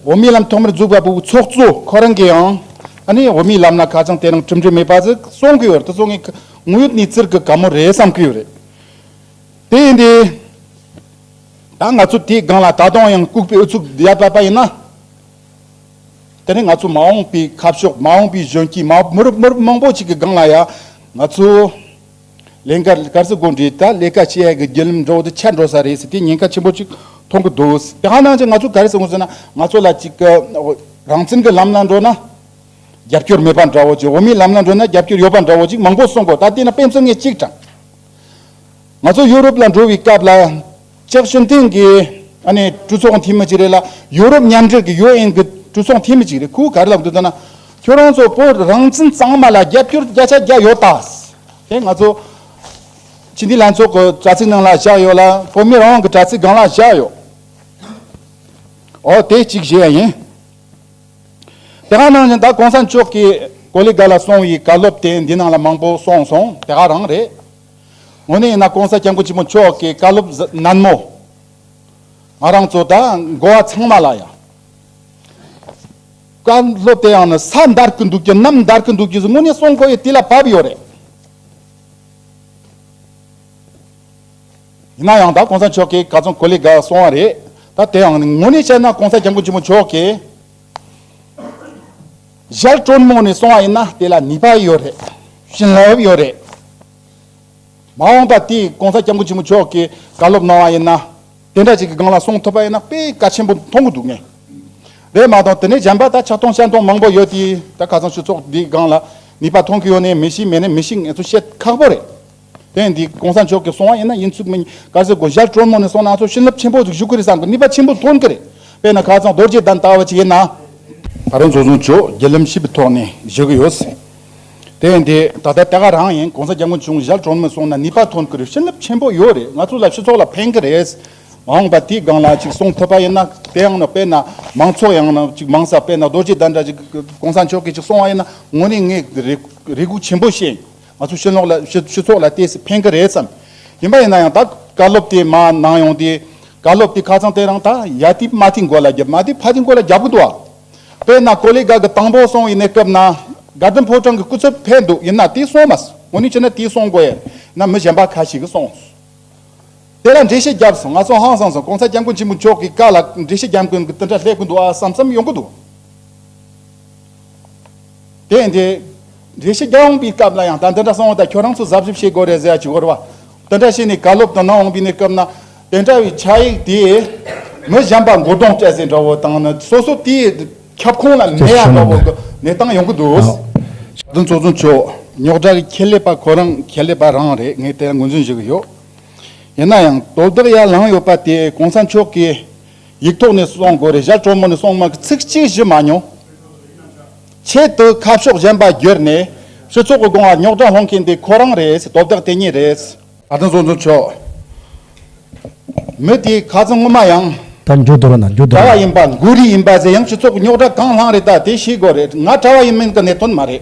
འོ་མའི་ལམ་ཐོག་མར་འཛུགས་པ་པོའི་ཚོགས་གཙོ་ཁོ་རང་གི་ཡང་ཨ་ནི་འོ་མའི་ལམ་ལ་ཁ་ཚང་དེ་རིང་གྲུབ་འབྲས་མེད་པ་ཟིག་གསུང་གི་ཡོད་དེ་ཚོ་ངའི་དངོས་ཡོད་གནས་ཚུལ་གི་ག་མོ་རེད་བསམ་གི་ཡོད་རེད་དེ་ཡིན་དུས། ད་ང་ཚོ་དེའི་སྒང་ལ་ད་དུང་ཡང་ལྐུགས་པའི་ཨུ་ཚུགས་བརྒྱབ་པ་པ་ཡིན་ན། དེ་ནི་ང་ཚོ་མ་འོངས་པའི་ཁ་ཕྱོགས་མ་འོངས་པའི་གཞོན་སྐྱེས་མ་མི་རབས་མི་རབས་མང་པོ་ཞིག་གི་སྒང་ལ་ཡང་ང་ཚོ་ལས་འགར་སྐར་ཚོད་དགུ་འདྲའི་ད་ལས་ཀ་བྱེད་ཡས་ཀྱི་བརྒྱུད་ལམ་འགྲོ་དུ་ཆད་འགྲོ་ས་རེད་ཟེར་དེ་ཉེན་ཁ་ཆེན་པོ་ཅིག་མཐོང་གི་འདུག་དེ་ཧ་ནང་ཆེ་ང་ཚོ་ག་རེ་བསམ་གི་ཟེར་ན་ང་ཚོ་ལ་ཅིག་རང་བཙན་གྱི་ལམ་ལ་འགྲོ་ན་རྒྱབ་སྐྱོར་མེད་པ་འདྲ་བོ་ཅིག་འོ་མའི་ལམ་ལ་འགྲོ་ན་རྒྱབ་སྐྱོར་ཡོད་པ་འདྲ་བོ་ཅིག་མང་པོ་གསུང་གོ་ད་དེ་ན་སྤེན་ཚེ་ངས་གཅིག་དྲངས། ང་ཚོ་ཡོ་རོབ་ལ་འགྲོ་བའི་སྐབས་ལ། ཅེག་ཞི་མཐིང་གི་གྲོས་ཚོགས་འཐུས་མི་ཅིག་རེད་ལ། ཡོ་རོབ་མཉམ་འབྲེལ་གྱི UN གྱི་གྲོས་ཚོགས་འཐུས་མི་ཅིག་རེད་ཁོའི་གར་ལ་འདུག་ད་ན། ཁྱོད་རང་ཚོ་བོད་རང་བཙན་གཙང་མ་ལ་རྒྱབ་སྐྱོར་བརྒྱ་ཆ་བརྒྱ་ཡོད་ད། དེ་ང་ཚོ་སྤྱི་མཐུན་ལྷན་ཚོགས་ཀྱི་དྲ་ཚིགས་ནང་ལ་བཞག་ཡོད་ལ་བོད་མི་རང་དབང་གི་དྲ་ཚིགས་སྒང་ལ་བཞག་ཡོད། འོ་དེ་གཅིག་བཞེས་ཡ་ཡིན། དེ་ག་ནང་བཞིན་ད་གོང་ས་མཆོག་གིས་གོ་ལི་ག་ལ་སོང་བའི་གར་སློབ་དེ་འདི་ནང་ལ་མང་པོ་གསུངས་སོང་དེ་ག་རང་རེད། དངོས་གནས་ཡིན་ན ྋགོང་ས ྋསྐྱབས་མགོན་ཆེན་པོ་མཆོག་གི་བཀའ་སློབ་ཟབ་མོ་ང་རང་ཚོ་དང་འགོ་བ་ཚང་མ་ལ་ཡང་བཀའ་སློབ་དེ་ཡང་ནི་ས་འདར་གྱི་འདུག་གི་གནམ་འདར་གྱི་འདུག་གི་དངོས་གནས་སྲོང་ཁོ་ཡི་དུས་ལ་བབས་ཡོད་རེད། ཡིན་ན་ཡང་ད ྋགོང་ས་མཆོག་གིས་ག་ཚོད་གོ་ལས་དགའ་སོང་བ་རེད། ད་དེ་ཡང་ནི་དངོས་གནས་བཤད་ན ྋགོང་ས ྋསྐྱབས་མགོན་ཆེན་པོ་མཆོག་གིས། གཞན་དྲོན་མོ་ནས་སོང་བ་ཡིན་ན་དེ་ལ་ནུས་པ་ཡོད་རེད། བྱིན་རླབས་ཡོད་རེད། མ་འོངས་པ་དེ ྋགོང་ས ྋསྐྱབས་མགོན་ཆེན་པོ་མཆོག་གིས་བཀའ་སློབ་གནང་བ་ཡིན་ན་དེ་འདྲ་ཅིག་གི་སྒང་ལ་སོང་ཐུབ་པ་ཡིན་ན་དཔེ་གལ་ཆེན་པོ་མཐོང་གི་འདུག་ངས་རེད་མ་གཏོགས་དེ་ནས་གཞན་པ་ད་ཆགས་སྟོང་བཤད་སྟོང་མང་པོ་ཡོད་དེ་ད་ཁ་སང་ཕྱི་ཚོགས་འདིའི་སྒང་ལ་ནུས་པ་མཐོང་གི་ཡོད་ནི་མི་ཤེས་མེད་ནི་མི་ཤེས་ངས་ཚོ་བཤད་ཁག་པོ་རེད། དེ་ཡིན་དུས་གོང་ས་མཆོག་གིས་སོང་བ་ཡིན་ན་ཡིན་ཚུལ་མིན་ག་ཚོད་གོ་གཞར་དྲོན་མོ་ནས་སོང་ན་ཚོ་བྱིན་རླབས་ཆེན་པོ་ཞིག་ཞུགས་ཀྱི་རེད་བསམ་གི་ནུས་པ་ཆེན་པོ་ཐོན་གྱི་རེད་དཔེར་ན་ཁ་ཚང་རྡོ་རྗེ་བདག་ལྟ་བ་ཅིག་ཡིན་ན། ད་རུང་ཚོགས་གཞོན་མཆོག་བརྒྱུད་ལམ་ཞིབ་པའི་ཐོག་ནས་བཞུགས་ཀྱི་ཡོད་སྲིད། དེ་ཡིན་དུས་ད་ལྟ་དེ་ག་རང་ཡིན་གོང་ས་སྐྱབས་མགོན་ཆུང་གཞར་དྲོན་མོ་སོང་ན་ནུས་པ་ཐོན་གྱི་རེད་བྱིན་རླབས་ཆེན་པོ་ཡོད་རེད་ང་ཚོ་ལ་སྤྱི་ཚོགས་ལ་ཕན་གྱི་རེད་འོང་བ་དེའི་སྒང་ལ་ཅིག་གསུང་ཐུབ་པ་ཡིན་ན་དེའང་ནི་དཔེར་ན་མང་ཚོགས་ཡང་ན་ཅིག་མང་ས་དཔེར་ན་རྡོ་རྗེ་བདག་འདྲ་ཅིག་གོང་ས་མཆོག་གིས་ཅིག་སོང་བ་ཡིན་ན་ངོ་ནས་ངས་རེ་སྒུག་ཆེན་པོ་བྱེད་ང་ཚོའི་ཤེས་ལོག་ལ་སྤྱི་ཚོགས་ལ་བལྟས་ཚེ་ཕན་གི་རེད་བསམ། ཡིན་པ་ཡིན་ན་ཡང་ད་བཀའ་སློབ་དེ་མ་གནང་ཡོང་དུས། བཀའ་སློབ་དེ་ཁ་ཚང་དེ་རང་ད་ཡ་དེ་དམའ་དེའི་མགོ་ལ་རྒྱབ་དམའ་དེ་ཕ་དེའི་མགོ་ལ་རྒྱབ་གི་འདུག་བ། དཔེར་ན་ཀོ་ལེ་དགའ་གི་དང་པོ་སོང་ཡིན་ནའི་སྐབས་ན། དགའ་ལྡན་ཕོ་བྲང་གི་སྐུ་ཚབ་ཕེབས་འདུག་ཡིན་ན་དེ་སོང་མ་སོང་ངོ་ནི་ཅི་ན་དེ་སོང་དགོས་ཡ་ན་མི་གཞན་པ་ཁ་ཞིག་གི་སོང། དེ་ལ་འགྲེལ་བཤད་བརྒྱབ་སོང་ང་ཚོ་ཧང་སང་སོང ྋགོང་ས ྋསྐྱབས་མགོན་ཆེན་པོ་མཆོག་གི་བཀའ་ལ་འགྲེལ་བཤད་བརྒྱབ་མཁན་གྱི་དེ་འདྲ་སླེབས་གི་འདུག་བ་བསམ་བསམ་ཡོང་གི་འདུག། དེ་འདྲའི་འགྲེལ་བཤད་རྒྱག་འོང་པའི་སྐབས་ལ་ཡང་ད་འདི་འདྲ་གསང་བ་དང་ཁྱོད་རང་ཚོ་གཟབ་གཟབ་བྱེད་དགོས་རེད་ཟེར་ཡ་ཅི་དགོས་བ། དེ་འདྲ་བྱས་ནས་ག་ལོ་བདུན་ནང་འོང་པའི་ནས་སྐབས་ན་དེ་འདྲ་བའི་ཕྱག་ཡིག་དེ་མི་གཞན་པ་མགོ་སྟོང་སྤྲད་ཟེར་འདྲ་བོ་དང་ནི་སོ་སོ་དེའི་ཁྱབ་ཁོངས་ལ་གནས་ཡ་འདྲ་བོ་གི་གནས་སྟངས་ཡོང་གི་འདུག། བདུན་གཙོ་བཙུན་མཆོག་རྙོག་དྲ་གི་ཁྱད་ལས་པ་ཁོ་རང་ཁྱད་ལས་པ་རང་རེད་ངས་དེ་ལ་ངོས་འཛིན་བཞུ་གི་ཡོད། ཡིན་ན་ཡང་དོ་བདག་ཡར་ལངས་ཡོད་པ་དེ་གོང་ས་མཆོག་གིས་ཡིག་ཐོག་ནས་སོང་དགོས་རེད་ཞར་གྲོ་མོ་ནས་སོང་མ་གི་ཚིག་གཅིག་བཞི་མ་མྱོང། ཆེད་དུ་ཁ་ཕྱོགས་གཞན་པ་བསྒྱུར་ནས་སྤྱི་ཚོགས་ཀྱི་སྒོ་ང་རྙོག་དྲ་སློང་མཁན་དེ་ཁོ་རང་རེད་དོ་བདག་དེ་ཉིད་རེད། ད་དུང་བཙོན་ཟུར་མཆོག་མི་དེའི་ཁ་ཚོན་སྔོན་མ་ཡང། ད་འགྱུར་རྡོ་ར་ན་འགྱུར་རྡོ་ར་གྲྭ་བ་ཡིན་ཡིན། པ་འགུལ་རིས་ཡིན་པ་ཟེར་ཡང་སྤྱི་ཚོགས་ཀྱི་རྙོག་དྲ་གང་བསླངས་རེད་ད་དེ་ཤེས་དགོས་རེད་ང་གྲྭ་བ་ཡིན་མིན་གྱི་གནད་དོན་མ་རེད།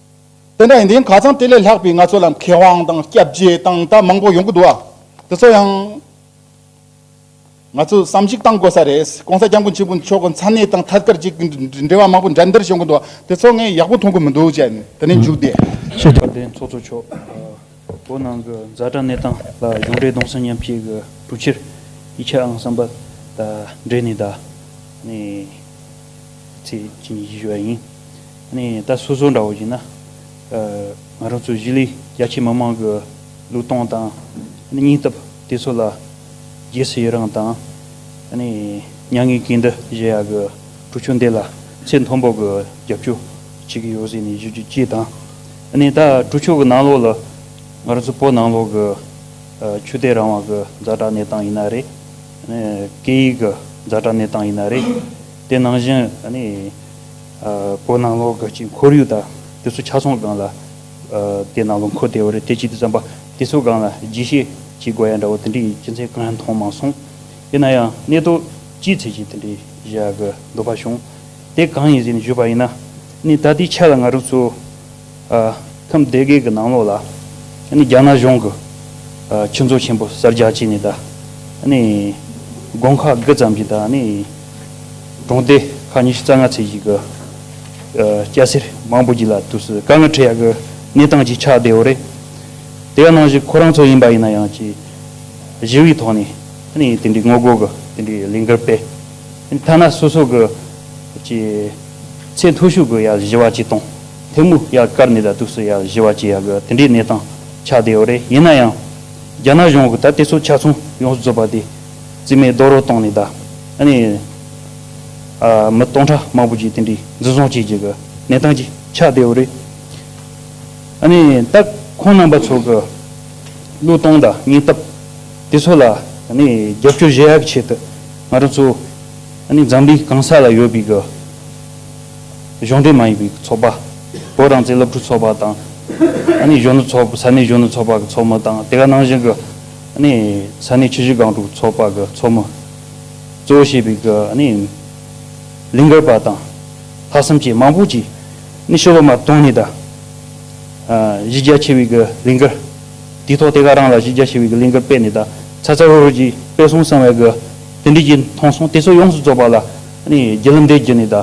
དེ་འདྲ་ཡིན་དུས་གང་ཙམ་དེ་ལས་ལྷག་པའི་ང་ཚོ་ལ་མཁས་དབང་དང་སྐྱབས་རྗེ་དང་དག་མང་པོ་ཡོང་གི་འདུག་ཨ། དེ་ཚོ་ཡང་ང་ཚོས་བསམ་གཞིགས་གཏང་དགོས་ས་རེད། གོང་ས་སྐྱབས་མགོན་ཆེན་པོ་མཆོག་གི་འཚམས་གནས་དང་ཐད་ཀར་གཅིག་འབྲེལ་བ་མང་པོ་འགྲན་བསྡུར་བྱུང་གི་འདུག་དེ་ཚོ་ངས་ཡག་པོ་མཐོང་གི་མི་འདུག་བྱས་ནས་དེ་ནས་མཇུག་བསྡད། ཕྱི་དྲ་འདྲེན་ཚོགས་གཙོ་མཆོག། བོད་ནང་གི་རྫ་དྲ་གནས་སྟངས་ལ་གཞུང་འབྲེལ་གདོང་སེམས་མཉམ་བསྐྱེད་ཀྱི་གྲུབ་ཕྱིར་ཡིག་ཆ་ཨང་གསུམ་པ་དང་འབྲེལ་ནས་ད་ཚེས་གཅིག་ཉིན་བཞི་བཞུགས་པ་ཡིན། ད་སོ་སོ་འདྲ་བོ་ཡིན་ན། ང་རང་ཚོའི་གཞིས་ལུས་རྒྱ་ཆེའི་མི་མང་གི་ལུས་སྟོངས་དང་སྙིང་སྟབས་དེ་ཚོ་ལ་རྗེས་སུ་ཡི་རངས་དང། མྱ་ངན་གྱིས་འདི་བཞེས་ཡག་གི་གྲུ་ཆུང་འདི་ལ་ཚེ་མཐོན་པོ་གི་རྒྱབ་སྐྱོར་བྱེད་ཀྱི་ཡོད་ཟེར་ནས་ཞུ་རྒྱུ་སྤྱི་དང། ནས་ད་གྲུ་ཆུ་གི་ནང་ལོགས་ལ་ང་རོ་ཚོ་པོ་ནང་ལོགས་གི་ཆུ་དེ་རང་དབང་གི་རྫ་དྲག་གནས་སྟངས་ཡིན་ན་རེད། སྐད་ཡིག་གི་རྫ་དྲག་གནས་སྟངས་ཡིན་ན་རེད། དེ་ནང་བཞིན་པོ་ནང་ལོགས་ཀྱི་སྤྱི་འཁོར་ཡུག་དང་དེ་ཚོ་ཆ་ཚང་སྒང་ལ་དེ་ནང་ལོགས་འཁོར་བདེ་བོ་རེད་དེ་གཅིག་དེ་ཙམ་པ་དེ་ཚོ་སྒང་ལ་རྒྱས་བཤད་བྱེད་དགོས་ཡ་འདྲ་བོ་དེ་འདྲའི་སྤྱི་མཚན་གང་ཡང་མཐོང་མ་སོང། ཡིན་ན་ཡང་གནད་དོ་སྤྱིའི་ཚད་ཀྱི་དེ་འདྲའི་བཞག་གི་འདུག་པ་བྱུང། དེ་གང་ཡིན་ཟེར་ནས་བརྗོད་པ་ཡིན་ན་ནི་ད་ལྟའི་ཆ་ལ་ང་རང་ཚོ་ཁམས་སྡེ་དགེ་གི་ནང་ལོགས་ལ་ནི་རྒྱ་ནག་གཞུང་གི་ཁྱུ་མཚོ་ཆེན་པོ་གསར་རྒྱག་བྱས་ནས་ད་ནི་དགོན་ཁག་དགུ་ཙམ་གྱི་ད་ནི་གྲོང་སྡེ་ཁག་ཉི་ཤུ་རྩ་ལྔ་ཚད་ཅིག་གི་སྐྱ་སེར་མང་པོ་ཀྱི་ལ་དུས་སུ་དཀའ་ངལ་འཕྲད་ཡག་གི་གནས་སྟངས་ཀྱི་ཆགས་བསྡད་འོ་རེད། དེ་ག་ནང་བཞིན་ཁོ་རང་ཚོ་ཡིན་པ་ཡིན་ན་ཡང་ཅི་གཞི་བའི་ཐོག་ནས་ནི་དེ་འདྲའི་ངོ་རྒོལ་གི་དེ་འདྲའི་ལས་འགུལ་སྤེལ། ཐ་ན་སོ་སོ་གི་ཀྱི། ཚེ་མཐོ་ཤོས་གི་ཡ་བཞི་བ་ཅིག་དང། ཐེ་མུ་ཡ་ཀར་ནི་ད་དུག་སུ་ཡ་བཞི་བ་ཅིག་ཡ་གི་དེ་འདྲའི་གནས་སྟངས་ཆགས་བསྡད་ཡོད་རེད་ཡིན་ན་ཡང། རྒྱ་ནག་གཞུང་གི་ད་དེ་ཚོ་ཆ་ཚང་ཡོངས་སུ་རྫོགས་པ་དེ། རྩིས་མེད་རྡོག་རོལ་བཏང་ནས་ད། ཨ་ནི། ཨ། མི་སྟོང་ཕྲག་མང་པོ་ཅིག་དེ་འདྲའི་འཛིན་བཟུང་བྱེད་ཀྱི་གི་གནས་སྟངས་ཅིག་ཆགས་བསྡད་ཡོད་རེད། ཨ་ནི་ད་ཁོང་རྣམ་པ་ཚོ་གི། བློས་བཏང་ད་ཉེན་སྟབས། དེ་ཚོ་ལ་ཨ་ནི་རྒྱབ་སྐྱོར་བཞེས་ཡག་གི་ཆེད་དུ། ང་རང་ཚོ་ཨ་ནི་འཛམ་གླིའི་གང་ས་ལ་ཡོད་པའི་གཞུང་འབྲེལ་མ་ཡིན་པའི་ཚོགས་པ། བོད་རང་བཙན་སློབ་ཕྲུག་ཚོགས་པ་དང། ཨ་ནི་གཞོན་ནུ་ཚོགས་ས་གནས་གཞོན་ནུ་ཚོགས་པ་གི་ཚོགས་མི་དང་དེ་ག་ནང་བཞིན་གི་ཨ་ནི་ས་གནས་ཆུ་བཞི་སྒང་དྲུག་ཚོགས་པ་གི་ཚོགས་མི། གཙོ་བོ་བྱས་པའི་གི་ཨ་ནི་ལིང་གར་པ་དང་ལྷག་བསམ་བཅས་མང་པོ་ཅིག་ཨ་ནི་ཤོ་བ་མར་དོང་ནས་ད་གཞི་རྒྱ་ཆེ་བའི་གི་ལིང་གར། དེའི་ཐོག་དེ་ག་རང་ལ་གཞི་རྒྱ་ཆེ་བའི་གླིང་དཀར་དཔེ་ནི་ད་ཚ་ཚ་རུ་རུ་གྱིས་དཔེ་སོང་གསང་བའི་གི་དེ་འབྲེལ་གྱི་མཐོང་སོང་དེ་ཚོ་ཡོངས་སུ་རྫོགས་པ་ལ་རྒྱལ་ལམ་འདས་རྒྱུ་ནི་ད་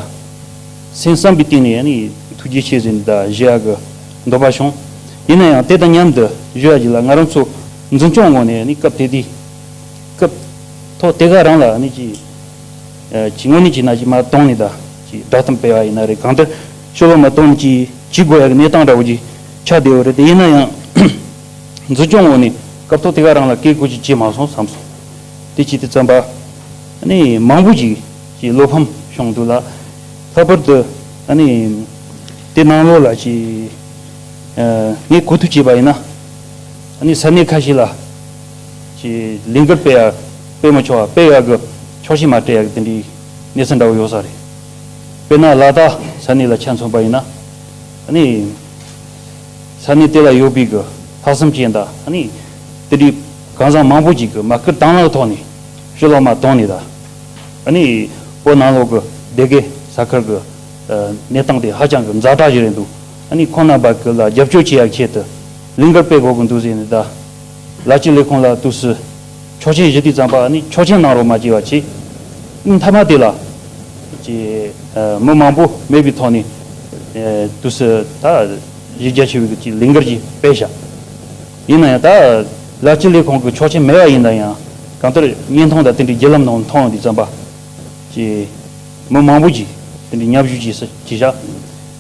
སེམས་བསམ་པའི་སྟེང་ནས་ཐུགས་རྒྱལ་ཆེ་ཟེར་ནས་ད་བཞེས་ཡག་གི་འདོད་པ་བྱུང། ཡིན་ན་ཡང་དེ་དང་མཉམ་དུ་བཞོས་ཡག་གི་ལ་ང་རང་ཚོ་འཛིན་སྐྱོང་ངོ་ནས་སྐབས་དེ་དུས་སྐབས་ཐོག་དེ་ག་རང་ལ་ནི་ཀྱི་ཀྱི་ངོ་ནས་ཀྱི་ན་ཀྱི་མ་གཏོང་ནི་ད་ཀྱི་བསྒྲགས་གཏམ་སྤེལ་བ་ཡིན་ན་རེད་གང་ལྟར་ཤོ་ལོ་མ་གཏོང་ནི་ཀྱི་ཀྱི་དགོས་ཡག་གི་གནས་སྟངས་འདྲ་བོ་ཀྱི་ཆ་དེ་འོ་རེད་དེ་ཡིན་ན་ཡང། འཛིན་སྐྱོང་འོག་ནས་སྐབས་ཐོག་དེ་ག་རང་ལ་བཀས་བཀོད་ཅིག་བྱས་མ་སོང་བསམ་སོང། དེ་བྱས་ཏེ་བརྩམས་པ། ནི་མང་པོ་ཞིག་གི་བློ་ཕམ་བྱུང་འདུག་ལ། ལྷག་པར་དུ། ནི། དེ་གནང་ལོ་ལ་ཅིག། ངས་གོ་ཐུབ་བྱས་པ་ཡིན་ན། ནི་ས་གནས་ཁ་ཤས་ལ། ཅིག་ལས་འགུལ་སྤེལ་ཡ་སྤེལ་མ་ཆོག་ཨ་སྤེལ་ཡ་གི་ཆོག་ཤེས་མ་སྤྲད་ཡ་གི་དེ་འདྲའི་གནས་ཚུལ་འདྲ་བོ་ཡོད་ས་རེད། དཔེར་ན་ལ་དྭགས་ས་གནས་ལ་ཆ་མཚོན་པ་ཡིན་ན། ནི། ས་གནས་དེ་ལ་ཡོད་པའི་གི་ལྷག་བསམ་ཅན་དག་ནི། དེ་དུས་ཁང་བཟང་མང་པོ་ཅིག་གི་མ་སྐུད་དྭངས་ལག་ཐོག་ནས་ཤུ་ལོག་མ་དོང་ནས་ད་ནི་བོད་ནང་ལོག་གི་སྡེ་དགེ་ས་ཁུལ་གི་གནས་སྟངས་དེ་ཧ་ཅང་གི་འཛག་དྲག་ཞིག་རེད་འདུག་ནི་ཁོང་རྣམས་པ་གི་ལ་རྒྱབ་སྐྱོར་བྱེད་ཡག་ཆེད་དུ་ལིང་གར་སྤེལ་དགོས་གི་འདུག་ཟེར་ནས་ད་ལ་སྤྱི་ལས་ཁང་ལ་བཏུགས་སུ། ཆོག་ཆེན་བཞི་དུས་བརྩམས་པ་ནི་ཆོག་ཆེན་གནང་རོགས་མ་བགྱི་བ་གྱིས། སྙིང་ཐ་མ་དེ་ལ། ཅེས། མི་མང་པོ་མེད་པའི་ཐོག་ནས། དུས་སུ་ད། གཞི་རྒྱ་ཆེ་བའི་ཀྱི་ལིང་གར་གྱིས་སྤེལ་བྱ། ཡིན་ན་ཡང་ད། ལར་སྤྱི་ལེ་ཁོང་གི་ཆོག་ཆེན་མེད་བ་ཡིན་ན་ཡང། གང་ལྟར་བརྙན་ཐུང་དང་དེ་འདྲའི་བརྒྱུད་ལམ་ནང་མཐོང་དུས་བརྩམས་པ། ཅེས། མི་མང་པོ་གྱིས་དེ་འདྲའི་མཉམ་ཞུགས་བགྱིས་སུ་བགྱི་བྱ།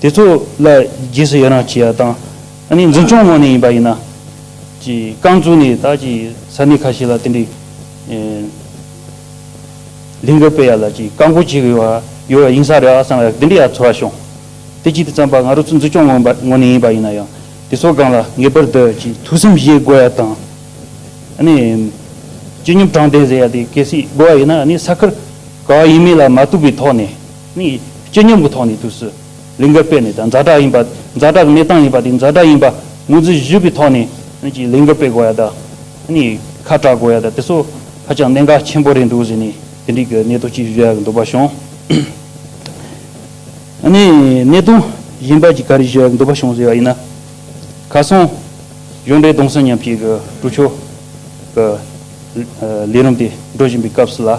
དེ་ཚོ་ལ་བགྱིས་སུ་ཡི་རང་བྱེད་ཡ་དང། ཨ་ནི་འཛིན་སྐྱོང་ངོགས་ནས་ཡིན་པ་ཡིན་ན། རྐང་བཙུགས་ནས་བདག་གི་ས་གནས་ཁ་ཤས་ལ་དེ་འདྲའི་ལིང་ག་སྤེལ་ཡ་ལ་བཀག་འགོག་བྱེད་དགོས་པ་ཡོད་པ་ཡིན་ས་རེད་ཨ་བསམ་ཡ་དེ་འདྲའི་ཡ་ཚོར་བ་བྱུང། དེ་གཅིག་དེ་བརྩམས་པ་ང་རོ་ཚོ་འཛིན་སྐྱོང་ངོགས་ནས་ཡིན་པ་ཡིན་ན་ཡང་དེ་ཚོ་སྒང་ལ་ངེས་པར་དུ་ཐུགས་བསམ་བཞེས་དགོས་ཡ་དང། ཨ་ནི་སྤྱི་སྙོམས་དྲང་བདེན་ཟེར་ཡ་དེ་གལ་སྲིད་དགོས་པ་ཡིན་ན་ཨ་ནི་ས་ཁུལ་ག་བ་ཡིན་མིན་ལ་མ་ལྟོས་པའི་ཐོག་ནས་ནི་སྤྱི་སྙོམས་ཀྱི་ཐོག་ནས་དུས་སུ། ལིང་གར་སྤེལ་ནས་དང་རྫ་དྲག་ཡིན་པ། རྫ་དྲག་གི་གནས་སྟངས་ཡིན་པ་དེ་རྫ་དྲག་ཡིན་པ་ངོས་འཛིན་བཞི་པའི་ཐོག་ནས་ཀྱི་ལིང་གར་སྤེལ་དགོས་ཡ་དང། ཁ་གྲག་དགོས་ཡ་དང་དེ་ཚོ་ཧ་ཅང་གནད་འགག་ཆེན་པོ་རེད་འདུག་ཟེར་ནས་དེ་འགྲིག་གི་གནད་དོན་གཅིག་བརྗོད་ཡ་གི་འདུག་པ་བྱུང། གནད་དོན་གཞན་པ་གཅིག་ག་རེ་བརྗོད་ཡ་གི་འདུག་པ་བྱུང་ཟེར་བ་ཡིན་ན། གར་སོང་གཞུང་འབྲེལ་གདོང་སེམས་མཉམ་སྐྱེད་ཀྱི་ཀྲུའུ་ཆོས་ཀྱི་ལས་རིམ་དེ་འགྲོ་བཞིན་པའི་སྐབས་སུ་ལ།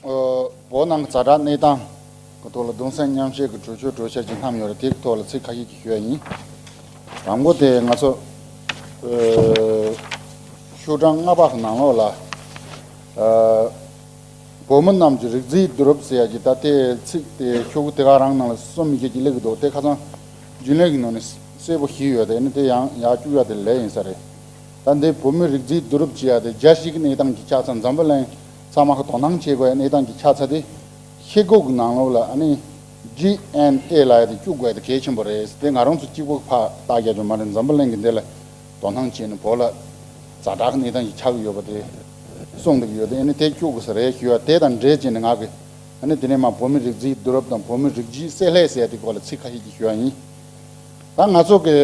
བོད་ནང་གི་རྩ་བྲག་གནས་སྟངས་ཀྱི་ཐོག་ལ་གདུང་སེམས་མཉམ་བསྐྱེད་ཀྱི་གྲོས་ཆོད་གྲོས་འཆར་ཅིག་བསྣམས་ཡོད་རེད་དེ་གི་ཐོག་ལ་ཚིག་ཁ་ཤས་ཀྱིས་ཞུ་ཡ་ཡིན། དང་པོ་དེ་ང་ཚོ་ཤོག་གྲངས་ལྔ་པ་གི་ནང་ལོགས་ལ། བོད་མི་རྣམས་ཀྱི་རིགས་རྫིས་བསྡུ་རུབ་ཟེར་ཡ་གྱི་ད་དེ་ཚིག་དེ་ཤོག་གུ་དེ་ག་རང་ནང་ལ་སོ་མི་བྱེད་ཀྱི་ལེགས་གི་འདུག་དེ་ཁ་ཚང་རྒྱུན་ལས་ཀྱི་ནང་ནས་གསལ་པོ་ཞིག་ཡོད་དེ་ནི་དེ་ཡང་ཡག་བཅུག་ཡ་དེ་ལས་ཡིན་ས་རེད། ད་འདི་བོད་མི་རིགས་རྫིས་བསྡུ་རུབ་བྱེད་ཡ་དེ་རྒྱ་གཞིས་ཀྱི་གནས་སྟངས་ཀྱི་ཆ་ཚང་འཛམ་བུ་གླིང་གཙང་མ་དོ་སྣང་བྱེད་དགོས་གནས་སྟངས་ཀྱི་ཆ་ཚ་དེ་ཤེལ་སྒོག་ནང་ལོགས་ལ GNA ལ་དེ་བཅུག་དགོས་དེ་གལ་ཆེན་པོ་རེད་དེ་ང་རང་ཚོ་གཅིག་པོ་ཕ་རྟགས་རྒྱ་ཇོ་མ་རེད་འཛམ་བུ་གླིང་གི་འདི་ལ་དོ་སྣང་བྱེད་ནས་བོད་ལ་ཛ་དྲག་གནས་སྟངས་ཀྱི་ཆག་གི་ཡོད་པ་དེ་གསུངས་འདུག་ཡོད་དེ་དེ་བཅུག་དགོས་ས་རེད་ཞུས་ཡ་དེ་དང་འབྲེལ་བྱས་ནས་ང་གི་དེ་ནས་མ་བོད་མི་རིགས་རྫིའི་བསྡུ་རབས་དང་བོད་མི་རིགས་རྗིའི་བསྲེ་ལྷད་ཟེར་དེ་སྐོར་ལ་ཚིག་ཁ་ཤས་ཀྱི་ཞུ་ཡ་ཡིན་ད་ང་ཚོ་གི་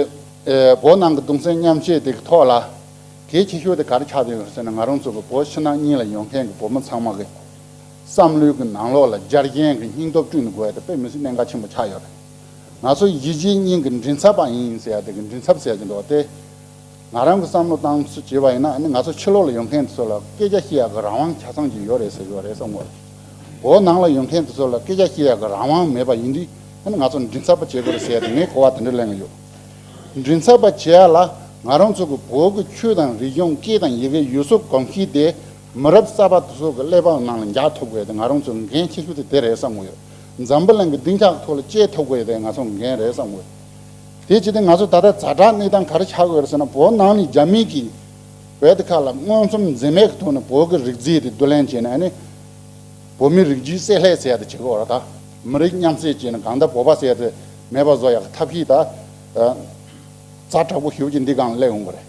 བོད་ནང་གི་གདུང་སེམས་མཉམ་བསྐྱེད་དེ་གི་ཐོག་ལ། གལ་ཆེ་ཤོས་དེ་གར་ཆགས་བསྡད་ཡོད་ཟེར་ན་ང་རང་ཚོ་བའི་བོད་ཕྱི་ནང་གཉིས་ལ་ཡོང་མཁན་གྱི་བོད་མི་ཚང་མ་གི་བསམ་བློའི་གི་ནང་ལོགས་ལ་སྦྱར་མཁན་གྱི་སྙིང་སྟོབས་བསྐྲུན་དགོས་དེ་དཔེ་མི་སྲིད་གནད་འགག་ཆེན་པོ་ཆགས་ཡོད་རེད། ང་ཚོ་གཞིས་བྱེས་གཉིས་གི་མགྲིན་ཚབ་པ་ཡིན་ཟེར་དེ་གི་མགྲིན་ཚབ་ཟེར་གྱི་འདུག་སྟེ། ང་རང་གི་བསམ་བློ་བཏང་ཚུལ་བྱས་པ་ཡིན་ན་ང་ཚོ་ཕྱི་ལོགས་ལ་ཡོང་མཁན་དེ་ཚོ་ལ་སྐད་ཆ་བཤད་ཡག་གི་རང་དབང་ཆ་ཚང་གྱི་ཡོད་རེད་ཟེར་ཡོད་རེད་བསམ་དགོས་རེད། བོད་ནང་ལ་ཡོང་མཁན་དེ་ཚོ་ལ་སྐད་ཆ་བཤད་ཡག་གི་རང་དབང་མེད་པ་ཡིན་དུས་ང་ཚོ་མགྲིན་ཚབ་པ་བྱེད་དགོས་རེད་ཟེར་དེ་ངས་གོ་བ་དེ་འདྲ་གླེང་གི་ཡོད། མགྲིན་ཚབ་པ་བྱེད་ཡ་ལ་ང་རང་ཚོ་གི་བོད་ཀྱི་ཆོས་དང་རིག་གཞུང་སྐད་དང་ཡི་གེ་ཡུལ་སྲོལ་གོམས་གཤིས་དེ་མི་རབས་གསར་པ་ཚོ་གི་ཀླད་པའི་ནང་ལ་འཇགས་ཐུབ་དགོས་དེ་ང་རང་ཚོ་འགན་ཆེ་ཤོས་དེ་དེ་རེད་བསམ་གི་ཡོད། འཛམ་བུ་གླིང་གི་སྡིངས་ཆ་ཐོག་ལ་སྐྱེས་ཐུབ་དགོས་དེ་ང་ཚོ་འགན་རེད་བསམ་གི་ཡོད། དེ་ཇི་སྟེ་ང་ཚོ་ད་ལྟ་བཛྲ་དྲག་གནས་སྟངས་ག་རེ་བྱ་དགོས་རེད་ཟེར་ན་བོད་ནང་ནས་རྒྱ་མིས་ཀྱི་བེད་ཁ་ལ་མངོན་ཚུམ་འཛེམས་མེད་ཀྱི་ཐོག་ནས་བོད་ཀྱི་རིག་རྫས་དེ་བསྡུ་ལེན་བྱས་ནས་བོད་མི་རིགས་རྒྱུད་བསྲེས་ལྷད་བསྲེས་དེ་བྱེད་དགོས་རེད་ད། མི་རིགས་མཉམ་བསྲེས་བྱས་ནས་གང་ལྟར་བོད་པ་བསྲེས་དེ་མེད་པ་བཟོ་ཡག་ཐབས་ཤེས་ད། རྩ་དྲག་པོ་ཞུ་བྱེད་འདི་གང་ལེགས་འོང་པ་རེད།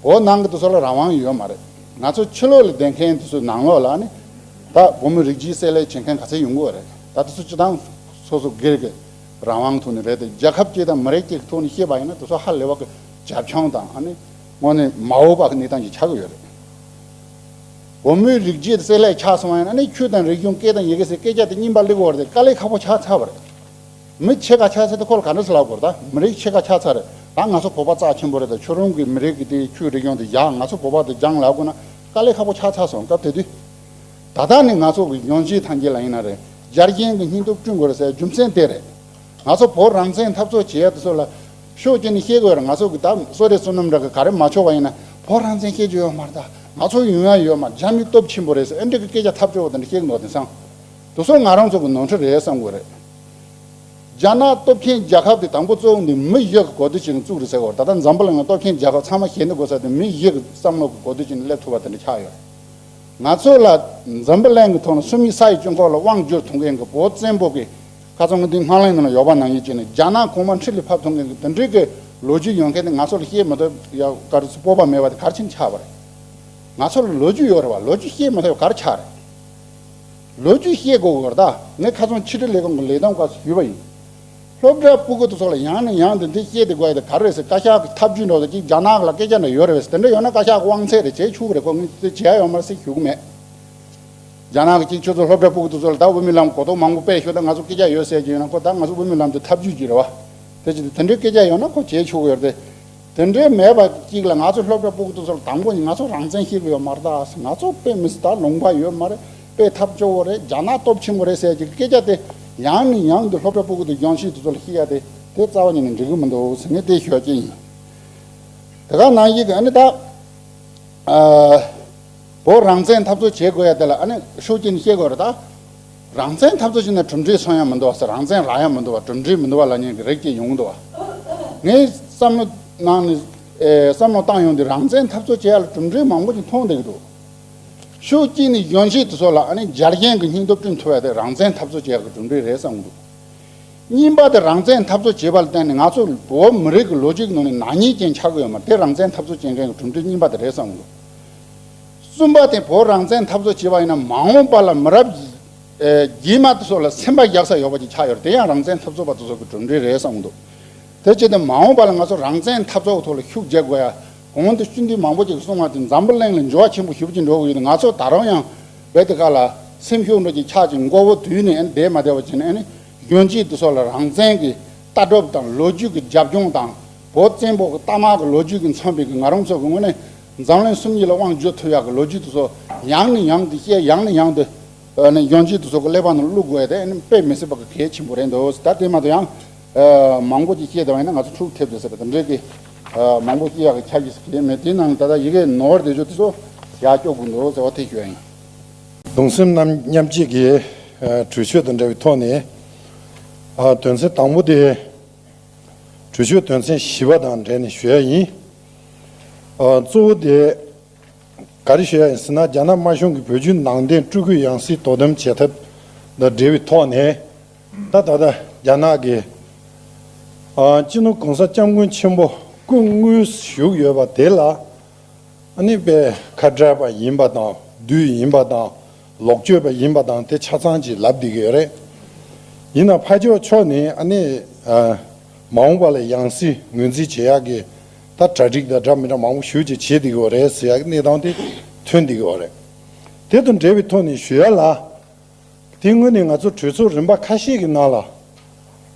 འོ་ནང་གི་དེ་ཚོ་ལ་རང་དབང་ཡོད་མ་རེད། ང་ཚོ་ཕྱི་ལོག་ལ་བསྡད་མཁན་དེ་ཚོའི་ནང་ལོག་ལ་ནི། ད་བུ་མོ་རིགས་བརྗེའི་བསྲེ་ལས་བྱེད་མཁན་ག་ཚད་ཡོང་གི་བ་རེད། ད་དེ་ཚོ་སྤྱི་བཏང་སོ་སོ་སྒེར་གི་རང་དབང་ཐོག་ནས་རེད་དེ་རྒྱལ་ཁབ་ཅིག་དང་མི་རིགས་ཅིག་གི་ཐོག་ནས་བཤད་པ་ཡིན་ན་དེ་ཚོ་ཧ་ལས་བ་གི་རྒྱབ་ལྗོངས་དང་ཨ་ནི་ངོ་ནས་མའོ་པ་གི་གནས་སྟངས་ཀྱི་ཆགས་གི་ཡོད་རེད། བུ་མོའི་རིགས་བརྗེའི་བསྲེ་ལས་ཆགས་སོང་བ་ཡིན་ན་ནི་ཆོས་དང་རིག་གཞུང་སྐད་དང་ཡི་གེ་ཟེར་སྐད་ཆ་དེ་རྙིང་པ་ལེགས་བོར་ཏེ་དཀའ་ལས་ཁག་པོ་ཆགས་ཚར་བ་རེད། མི་ཆེ་ཁ་ཆགས་ཚར་ཏེ་ཁོ་ལ་ག་འདྲ་ཟེར་ལབ་དགོས་རེད་ད། མི་རིགས་ཆེ་ཁ་ཆགས་ཚར་རེད་ད་ང་ཚོ་བོད་པ་རྩ་ཆེན་པོ་རེད་ད་ཁྱོད་རང་གིས་མི་རིགས་ཀྱི་དེ་ཁྱོའི་རིགས་ཡོང་དེ་བཞག་ང་ཚོ་བོད་པ་དེ་སྦྱང་ལབ་དགོས་ན་དཀའ་ལས་ཁག་པོ་ཆགས་ཚར་སོང་སྐབས་དེ་དུས། ད་ལྟ་ནི་ང་ཚོ་གི་ཡོང་རྗེས་ཐང་རྒྱལ་ལ་ཡིན་ན་རེད་རྒྱ་རྒྱན་གྱི་སྙིང་སྟོབས་བསྐྲུན་དགོས་རེད་ཟེར་རྒྱུ་མཚན་དེ་རེད། ང་ཚོ་བོད་རང་བཙན་འཐབ་རྩོད་བྱེད་ཡ་དེ་ཚོ་ལ་ཤོག་ཅེས་ནི་ཤེས་དགོས་རེད་ང་ཚོ་གི་ད་བསོད་རེ་བསོད་ནམས་རེ་གི་ག་རེ་མ་ཆོག་པ་ཡིན་ན་བོད་རང་བཙན་ཤེས་རྒྱུ་ཡོད་མ་རེད་ད་ང་ཚོ་ཡོང་ཡ་ཡོད་མ་རྒྱ་མི་སྟོབས་ཆེན་པོ་རེད་ཟེར་ཨེ་འགྲིག་གི་སྐད་ཆ་ཐབས་སྐྱོ་བོ་དེ་འདྲ་ཤེས་གི་འདུག་དེང་སང། དུ་སོང་ང་རང་ཚོ་གི་ནོར་འཁྲུལ་རེད་བསམ་དགོས་རེད། རྒྱ་ནག་སྟོབས་ཆེན་རྒྱལ་ཁབ་དེ་དང་པོ་གཙོ་བོ་ནི་མི་གཞི་གི་གོ་བསྡུར་བྱས་ནས་བཙུགས་རེད་ཟེར་བར་ད་ལྟ་འཛམ་བུ་གླིང་ལ་སྟོབས་ཆེན་རྒྱལ་ཁབ་ཚང་མ་ཞེ་འདི་དགོས་ས་དེ་མི་གཞི་གི་བསམ་བློ་གི་གོ་བསྡུར་བྱས་ནས་སླེབས་ཐུབ་པ་དེ་འདྲ་ཆགས་ཡོད། ང་ཚོ་ལ་འཛམ་བུ་གླིང་གི་ཐོག་ནས་སུ་མི་ས་ཡི་སྤྱི་ཁོག་ལ་དབང་བསྒྱུར་ཐོང་མཁན་གི་བོད་བཙན་པོ་གི་ཁ་ཚོན་གྱི་འདི་སྔ་གླིང་ནང་ལ་ཡོག་པ་ནང་ཡོད་ཅེས་ནས་རྒྱ་ནག་གོང་མ་མཁྲིས་ལས་ཕབ་ཐོང་མཁན་གི་དེ་འདྲིའི་གི་ལོ་རྒྱུས་ཡོད་མཁན་དེ་ང་ཚོ་ལ་བཤད་མི་ཐུབ་ཡ་ག་རེ་སྤོབས་པ་མེད་པ་དེ་ག་རེ་བྱས་ནས་ཆགས་པ་རེད། ང་ཚོ་ལ་ལོ་རྒྱུས་ཡོད་རེད་བ་ལོ་རྒྱུས་བཤད་མི་ཐུབ་ཡ་ག་རེ་ཆགས་རེད། ལོ་རྒྱུས་ཤེས་དགོས་བོར་ད་ངས་ཁ་ཚོན་ཆིག་ཁྲི་ལས་ཀང་གི་ལས་དོན་ཁག་སུ་ཞུས་པ་ཡིན། སློབ་གྲྭའི་སྤུ་གུ་དེ་ཚོ་ལ་ཡང་ནས་ཡང་དུ་འདི་བཤད་དེ་དགོས་དེ་ག་རེ་ཟེར་བཀའ་ཤག་གི་ཐབས་ཇུས་འགྲོ་ས་ཅིག་རྒྱ་ནག་ལ་སྐད་ཆ་འདྲ་ཡོད་རེད་བས་དེ་འདྲ་ཡོད་ན་བཀའ་ཤག་གི་དབང་ཚད་རེ་བྱེད་ཆུག་རེ་དགོས་ངས་དེ་བྱེད་ཡ་ཡོད་མ་རེད་སེ་ཞུ་གི་མེད། རྒྱ་ནག་གི་ཅིག་ཁྱོད་ཚོ་སློབ་གྲྭའི་སྤུ་གུ་དེ་ཚོ་ལ་ད་དབུ་མའི་ལམ་གོ་རྟོགས་མང་པོ་སྤེལ་ཤོག་ད་ང་ཚོ་སྐད་ཆ་ཡོད་ཟེར་གྱི་ཡོད་ན་ཁོ་ད་ང་ཚོ་དབུ་མའི་ལམ་དེ་ཐབས་ཇུས་ཀྱི་རེད་བ། དེ་བྱེད་དེ་དེ་འདྲའི་སྐད་ཆ་ཡོད་ན་ཁོ་བྱེད་ཆུག་གི་ཡོད་རེད་དེ། དེ་འདྲའི་མེད་པ་གཅིག་ལ་ང་ཚོ་སློབ་གྲྭ་སྤུག་ཏུ་ཚོར་དང་པོ་ནི་ང་ཚོ་རང་བཙན་ཤེས་གི་ཡོད་མ་རེད་དཱ་ང་ཚོ་དཔེ་མི་སྲིད་དཱ་ལུང་པ་ཡོད་མ་རེད་དཔེ་ཐབས་སྐྱོ་བོ་རེད་རྒྱ་ནག་སྟོབས་ཆེན་པོ་རེད་ཟེར་གི་སྐད་ཆ་དེ་ཡང་ནས་ཡང་དུ་སློབ་གྲྭ་སྤུག་ཏུ་ལྗོངས་ཤིག་ཏུ་ཚོར་ལ་ཤི་ཡ་དེ་དེ་རྩ་བ་ཉིད་ནས་འགྲིག་གི་མི་འདུག་ཟེར་ནས་དེ་ཤོད་ཀྱི་ཡིན། དེ་ག་ནང་བཞིན་གྱི་ཨ་ནི་ད་བོད་རང་བཙན་འཐབ་རྩོད་བྱེད་དགོས་ཡ་དེ་ལ་ཨ་ནི་ཤུགས་རྐྱེན་ཤེས་དགོས་རེད་དཱ། རང་བཙན་འཐབ་རྩོད་བྱེད་ན་གྲུབ་འབྲས་སོང་ཡང་མི་འདུ་བ་སེ་རང་བཙན་རག་ཡང་མི་འདུ་བ་གྲུབ་འབྲས་མི་འདུ་བ་ལ་ཉན་གི་རེད་ཅེས་ཡོང་གི་འདུ་བ། ངས་བསམ་བློ་གནང་ནས། བསམ་བློ་བཏང་ཡོང་དུས་རང་བཙན་འཐབ་རྩོད་བྱེད་ཡ་ལ་གྲུབ་འབྲས་མང་པོ་ཞིག་མཐོང་བསྡད་ཀྱི་འདུག་ཤུགས་སྐྱེས་ནས་གཞོན་སྐྱེས་དེ་ཚོ་ལ་ཨ་ནི་འཇར་རྒན་གྱི་སྙིང་སྟོབས་བསྐྲུན་ཐུབ་ཡ་དེ་རང་བཙན་འཐབ་རྩོད་བྱེད་ཡ་གི་གྲུབ་འབྲས་རེད་བསམ་གྱི་འདུག་གཉིས་པ་དེ་རང་བཙན་འཐབ་རྩོད་བྱེད་པ་ལ་བརྟེན་ནས་ང་ཚོ་བོད་མི་རིགས་ཀྱི་ལོ་རྒྱུས་ཀྱི་ནང་ནས་ནག་ཉེས་ཅན་ཆགས་ཀྱི་ཡོད་མ་རེད་དེ་རང་བཙན་འཐབ་རྩོད་བྱེད་མཁན་གྱི་གྲུབ་འབྲས་གཉིས་པ་དེ་རེད་བསམ་གྱི་འདུག། གསུམ་པ་དེ་བོད་རང་བཙན་འཐབ་རྩོད་བྱེད་པ་ཡིན་ན་མ་འོངས་པ་ལ་མི་རབས་རྗེས་མ་དེ་ཚོ་ལ་སེམས་པ་རྒྱག་ས་ཡོད་པ་ཅིག་ཆགས་ཡོད་རེད་དེ་ཡང་རང་བཙན་འཐབ་རྩོད་པ་དེ་ཚོ་གི་གྲུབ་འབྲས་རེད་བསམ་གྱི་འདུག་དེ་བྱས་ཏེ་མ་འོངས་པ་ལ་ང་ཚོ་རང་བཙན་འཐབ་རྩོད་ཐོག་ལ་ཤུགས་རྒྱག་དགོས་ཡ་གོང་དུ་བཅུད་འདུས་མང་པོ་ཅིག་གསུང་བ་དེ་འཛམ་བུ་གླིང་ལ་འགྱུར་བ་ཆེན་པོ་ཞུ་བཞིན་འགྲོ་གི་ཡོད་ང་ཚོ་ད་རུང་ཡང་བོད་དེ་ག་ལ་སེམས་ཤུགས་འགྲོ་ཅིག་ཆགས་ཅིག་མགོ་བོ་དུད་ནས་བསྡད་མ་བསྡད་པ་བྱས་ན་ཨ་ནི་གཞོན་སྐྱེས་དེ་ཚོ་ལ་རང་བཙན་གྱི་ལྟ་གྲུབ་དང་ལོ་རྒྱུས་ཀྱི་རྒྱབ་ལྗོངས་དང་བོད་བཙན་པོ་གི་གཏའ་དམག་གི་ལོ་རྒྱུས་ཀྱི་མཚོན་དཔེ་གི་ང་རང་ཚོ་གི་དངོས་གནས་འཛམ་གླིང་སུམ་གཉིས་ལ་དབང་བརྗོད་ཐུབ་ཡག་གི་ལོ་རྒྱུས་དུ་སོ་ཡང་ནས་ཡང་དུ་བཤད་ཡང་ནས་ཡང་དུ་ཡོང་རྗེས་དུ་སོ་གི་གླེགས་བམ་ནང་བླུག་དགོས་ཡ་དེ་དཔེ་མི་སྲིད་པ་གི་གལ་ཆེན་པོ་རེད་འདུག་ད་དེ་མ་གཏོགས་ཡང་མང་པོ་ཅིག་བཤད་བདེ་བ་ཡིན་ན་ང་ཚོ་འཁྲུག་ཐེབས་བདེ་ཟེར་བ་དང་འདྲེས་ཀི་མང་པོ་བཤད་ཡག་གི་ཁྱབ་ཀི་ཟེར་གི་མེད་དེའི་ནང་ནས་ད་ལྟ་ཡི་གེ་ནོར་བདེ་ཞོ་དེ་སོ་ཡག་སྐྱོ་དགོས་འདུག་ཟེར་བ་དེ་ཞོ་ཡིན། གདུང་སེམས་རྣམས་མཉམ་བསྐྱེད་ཀི་གྲོས་ཆོད་དང་འདྲ་བའི་ཐོག་ནས་དོན་ཚན་དང་པོ་དེ་གྲོས་ཆོད་དོན་ཚན་བཞི་བ་དང་འབྲེལ་ནས་ཞོ་ཡག་ཡིན། གཙོ་བོ་དེ་ག་རེ་ཞེས་ཟེར་ན་རྒྱ་ནག་དམར་གཞུང་གིས་བོད་བརྒྱུད་ནང་བསྟན་སྤྲུལ་སྐུའི་ཡང་སྲིད་དོ་དམ་བྱེད་ཐབས་དང་འབྲེལ་བའི་ཐོག་ནས། ད་ལྟ་རྒྱ་ནག་གི་སྤྱི་ནོར་གོང་ས་སྐྱབས་མགོན་ཆེན་པོ་སྐུ་དངོས་བཞུགས་ཡོད་པ་དེ་ལ་ནི་པའི་ཁ་བྲལ་བ་ཡིན་པ་དང་བདུད་ཡིན་པ་དང་ལོག་སྤྱོད་པ་ཡིན་པ་དང་དེ་ཆ་ཚང་གཅིག་ལབ་བསྡད་ཀྱི་ཡོད་རེད། ཡིན་ནའང་ཕ་ཇོ་མཆོག་ནི་ཨ་ནེ། མ་འོངས་པ་ལ་ཡང་སྲིད་ངོས་འཛིན་བྱེད་ཡག་གི། ད་གྲ་སྒྲིག་དང་སྒྲ་མི་སྒྲ་མང་པོ་ཞུ་བྱེད་བྱེད་བསྡད་ཀྱི་ཡོད་རེད་ཟེར་ཡག་གི་གནས་སྟངས་དེ་ཐོན་བསྡད་ཀྱི་ཡོད་རེད། དེ་དང་འབྲེལ་བའི་ཐོག་ནས་ཞུ་ཡ་ལ། དེ་སྔོན་ནས་ང་ཚོ་གྲོས་ཚོགས་རིམ་པ་ཁ་ཤས་ཀྱི་ནང་ལ།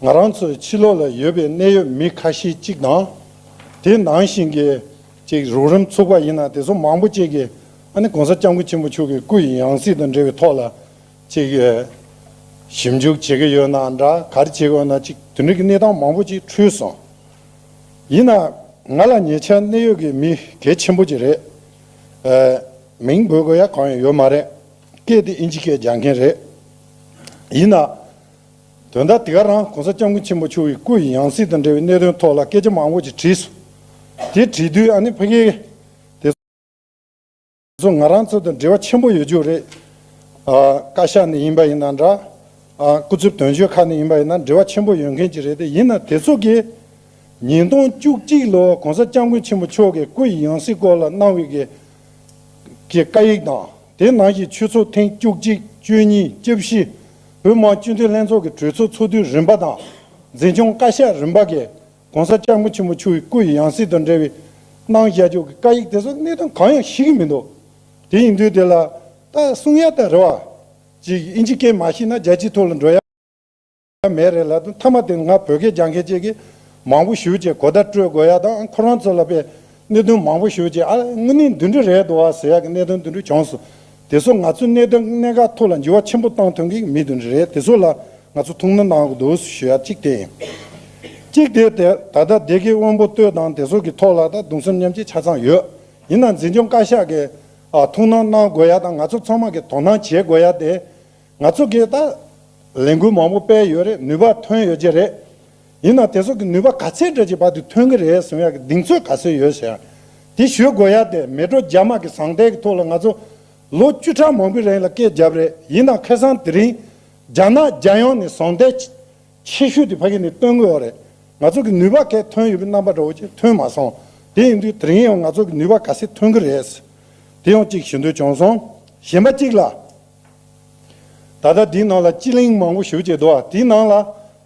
ང་རང་ཚོའི་ཕྱི་ལོགས་ལ་ཡོད་པའི་གནད་ཡོད་མི་ཁ་ཤས་གཅིག་དང། དེ་ནང་བཞིན་གྱི། ཅིག་རོགས་རིམ་ཚུགས་པ་ཡིན་ན་དེ་ཚོ་མང་པོ་གཅིག་གིས་ཨ་ནི་གོང་ས་སྐྱབས་མགོན་ཆེན་པོ་ཆུ་གི་སྐུ་ཡི་ཡང་སྲིད་དང་འབྲེལ་བའི་ཐོག་ལ་ཅིག་ཞིབ་འཇུག་བྱེད་ཀྱི་ཡོད་ན་འདྲ་གར་བྱེད་དགོས་ན་ཅིག་དེ་འདྲ་གི་གནས་སྟངས་མང་པོ་ཅིག་འཁྲུལ་སོང། ཡིན་ན་ང་ལ་ཉེ་ཆར་གནད་ཡོད་ཀྱི་མི་གལ་ཆེན་པོ་ཅིག་རེད། མིང་འབོད་དགོས་ཡ་གང་ཡང་ཡོད་མ་རེད། སྐད་དེ་ཨིན་ཇི་སྐད་སྦྱང་མཁན་རེད། ཡིན་ན་དོན་དག་དེ་ག་རང་གོང་ས་སྐྱབས་མགོན་ཆེན་པོ་མཆོག་གི་སྐུ་ཡི་ཡང་སྲིད་དང་འབྲེལ་བའི་གནད་དོན་ཐོག་ལ་སྐད་ཆ་མང་བོ་ཅིག་དྲིས་སོང། དེ་དྲིས་དུས་ཨ་ནེ་ཕ་གིས། དེ་ཚོ་ང་རང་ཚོ་དང་འབྲེལ་བ་ཆེན་པོ་ཡོད་རྒྱུ་རེད། བཀའ་ཤག་ནས་ཡིན་པ་ཡིན་ན་འདྲ། སྐུ་ཚབ་དོན་གཅོད་ཁག་ནས་ཡིན་པ་ཡིན་ན་འབྲེལ་བ་ཆེན་པོ་ཡོད་མཁན་ཅིག་རེད་དེ་ཡིན་ན་དེ་ཚོ་གིས། ཉིས་སྟོང་བཅུ་གཅིག་ལོར་གོང་ས་སྐྱབས་མགོན་ཆེན་པོ་མཆོག་གི་སྐུ་ཡི་ཡང་སྲིད་སྐོར་ལ་གནང་བའི་གི་བཀའ་ཡིག་དང་དེ་ནང་བཞིན་ཆོས་ཚོགས་ཐེངས་བཅུ་གཅིག་བཅུ་གཉིས་བཅུ་བཞི། བོད་དམག་སྤྱི་མཐུན་ལྷན་ཚོགས་ཀྱི་གྲོས་ཚོགས་ཚོགས་དུས་རིམ་པ་དང་འཛིན་སྐྱོང་བཀའ་ཤག་རིམ་པ་འགས ྋགོང་ས ྋསྐྱབས་མགོན་ཆེན་པོ་ཆོས་ཀྱི་སྐུ་ཡི་ཡང་སྲིད་དང་འབྲེལ་བའི་གནང་བཞེས་ཕྱོགས་ཀྱི་བཀའ་ཡིག་དེ་ཚོར་གནད་དོན་གང་ཡང་ཞིག་གི་མི་འདུག་དེ་ཡིན་དུས་དེ་ལ་ལྟ་གསུང་ཡ་ལྟ་རེད་བ། ཅིག་ཨིན་ཇི་སྐད་མ་ཤེས་ན་རྒྱལ་སྤྱིའི་ཐོག་ལ་འགྲོ་ཡ་མེད་རེད་ལབ་དུས་མཐའ་མ་དེ་ང་བོད་སྐད་སྦྱང་མཁན་བཅས་ཀྱིས་མང་པོ་ཞུ་ཅེས་གོ་བརྡ་སྤྲོད་དགོས་ཡ་དང་ཨང་ཁོ་རང་ཚོ་ལ་དཔེ་གནད་དོན་མང་པོ་ཞུ་རྗེས་ཨ་དངུལ་ནི་འདུས་འདྲི་རེད་འདུག་ཨ་ཟེར་ཡག་གི་གནད་དོན་འདུས་འདྲི་བྱུང་སོང། དེ་ཚོ་ང་ཚོའི་གནད་དོན་གནད་འགག་ཐུགས་ལ་འཇུ་བ་ཆེན་པོ་བཏང་ཐོན་གི་མི་འདུས་འདྲི་རེད་དེ་ཚོ་ལ་ང་ཚོ་ཐུགས་སྣང་གནང་གི་འདུག་ཞུ་ཡག་གཅིག་དེ་ཡིན། གཅིག་དེ་ད་ལྟ་སྡེ་དགེ་དབོན་པོ་སྟོད་དང་དེ་ཚོ་གི་ཐོག་ལ་ད་དུང་སེམས་ཉམས་ཀྱི་ཆ་ཚང་ཡོད། ཡིན་ན་འཛིན་སྐྱོང་བཀའ་ཤག་གི་ཐུགས་སྣང་གནང་དགོས་ཡག་དང་ང་ཚོ་ཚང་མ་གི་དོ་སྣང་བྱེད་དགོས་ཡག་དེ། ང་ཚོ་གི་ད་ལས་འགུལ་མང་པོ་སྤེལ་ཡོད་རེད་ནུས་པ་ཐོན་ཡོད་ཀྱི་རེད། ཡིན་ནའང་དེ་སོགས་ཀྱི་ནུས་པ་ག་ཚད་འདྲ་ཅིག་བར་དུ་ཐོན་གྱི་རེད་གསུང་ཡག་གི་གདེང་ཚོད་ག་ཚོད་ཡོད་ཟེར། དེ་ཞུས་དགོས་ཡག་སྟེ་མལ་གྲོ་རྒྱ་དམག་གི་ཟང་ཐལ་གྱི་ཐོག་ལ་ང་ཚོ་ལོ་བཅུ་ཕྲག་མང་པོའི་རིང་ལ་སྐད་བརྒྱབ་རེད་ཡིན་ནའང་ཁེ་སང་དེ་རིང་རྒྱ་ནག་རྒྱལ་ཡོངས་ནས་ཟང་ཐལ་ཆེ་ཤོས་དེ་ཕ་གི་ནས་སྟོན་དགོས་ཡོག་རེད་ང་ཚོ་གི་ནུས་པ་གས་ཐོན་ཡོད་པའི་རྣམ་པ་འདྲ་བོ་ཅིག་ཐོན་མ་སོང་དེ་ཡིན་དུས་དེ་རིང་ཡང་ང་ཚོ་གི་ནུས་པ་ག་ཚད་ཐོན་གྱི་རེད། དེ་ཡང་ཅིག་ཞུ་འདོད་བྱུང་སོང་གཞན་པ་གཅིག་ལ། ད་ལྟ་དེའི་ནང་ལ་སྤྱི་གླིང་མང་པོ་ཞུ་བྱས་འདུག་དེའི་ནང་ལ་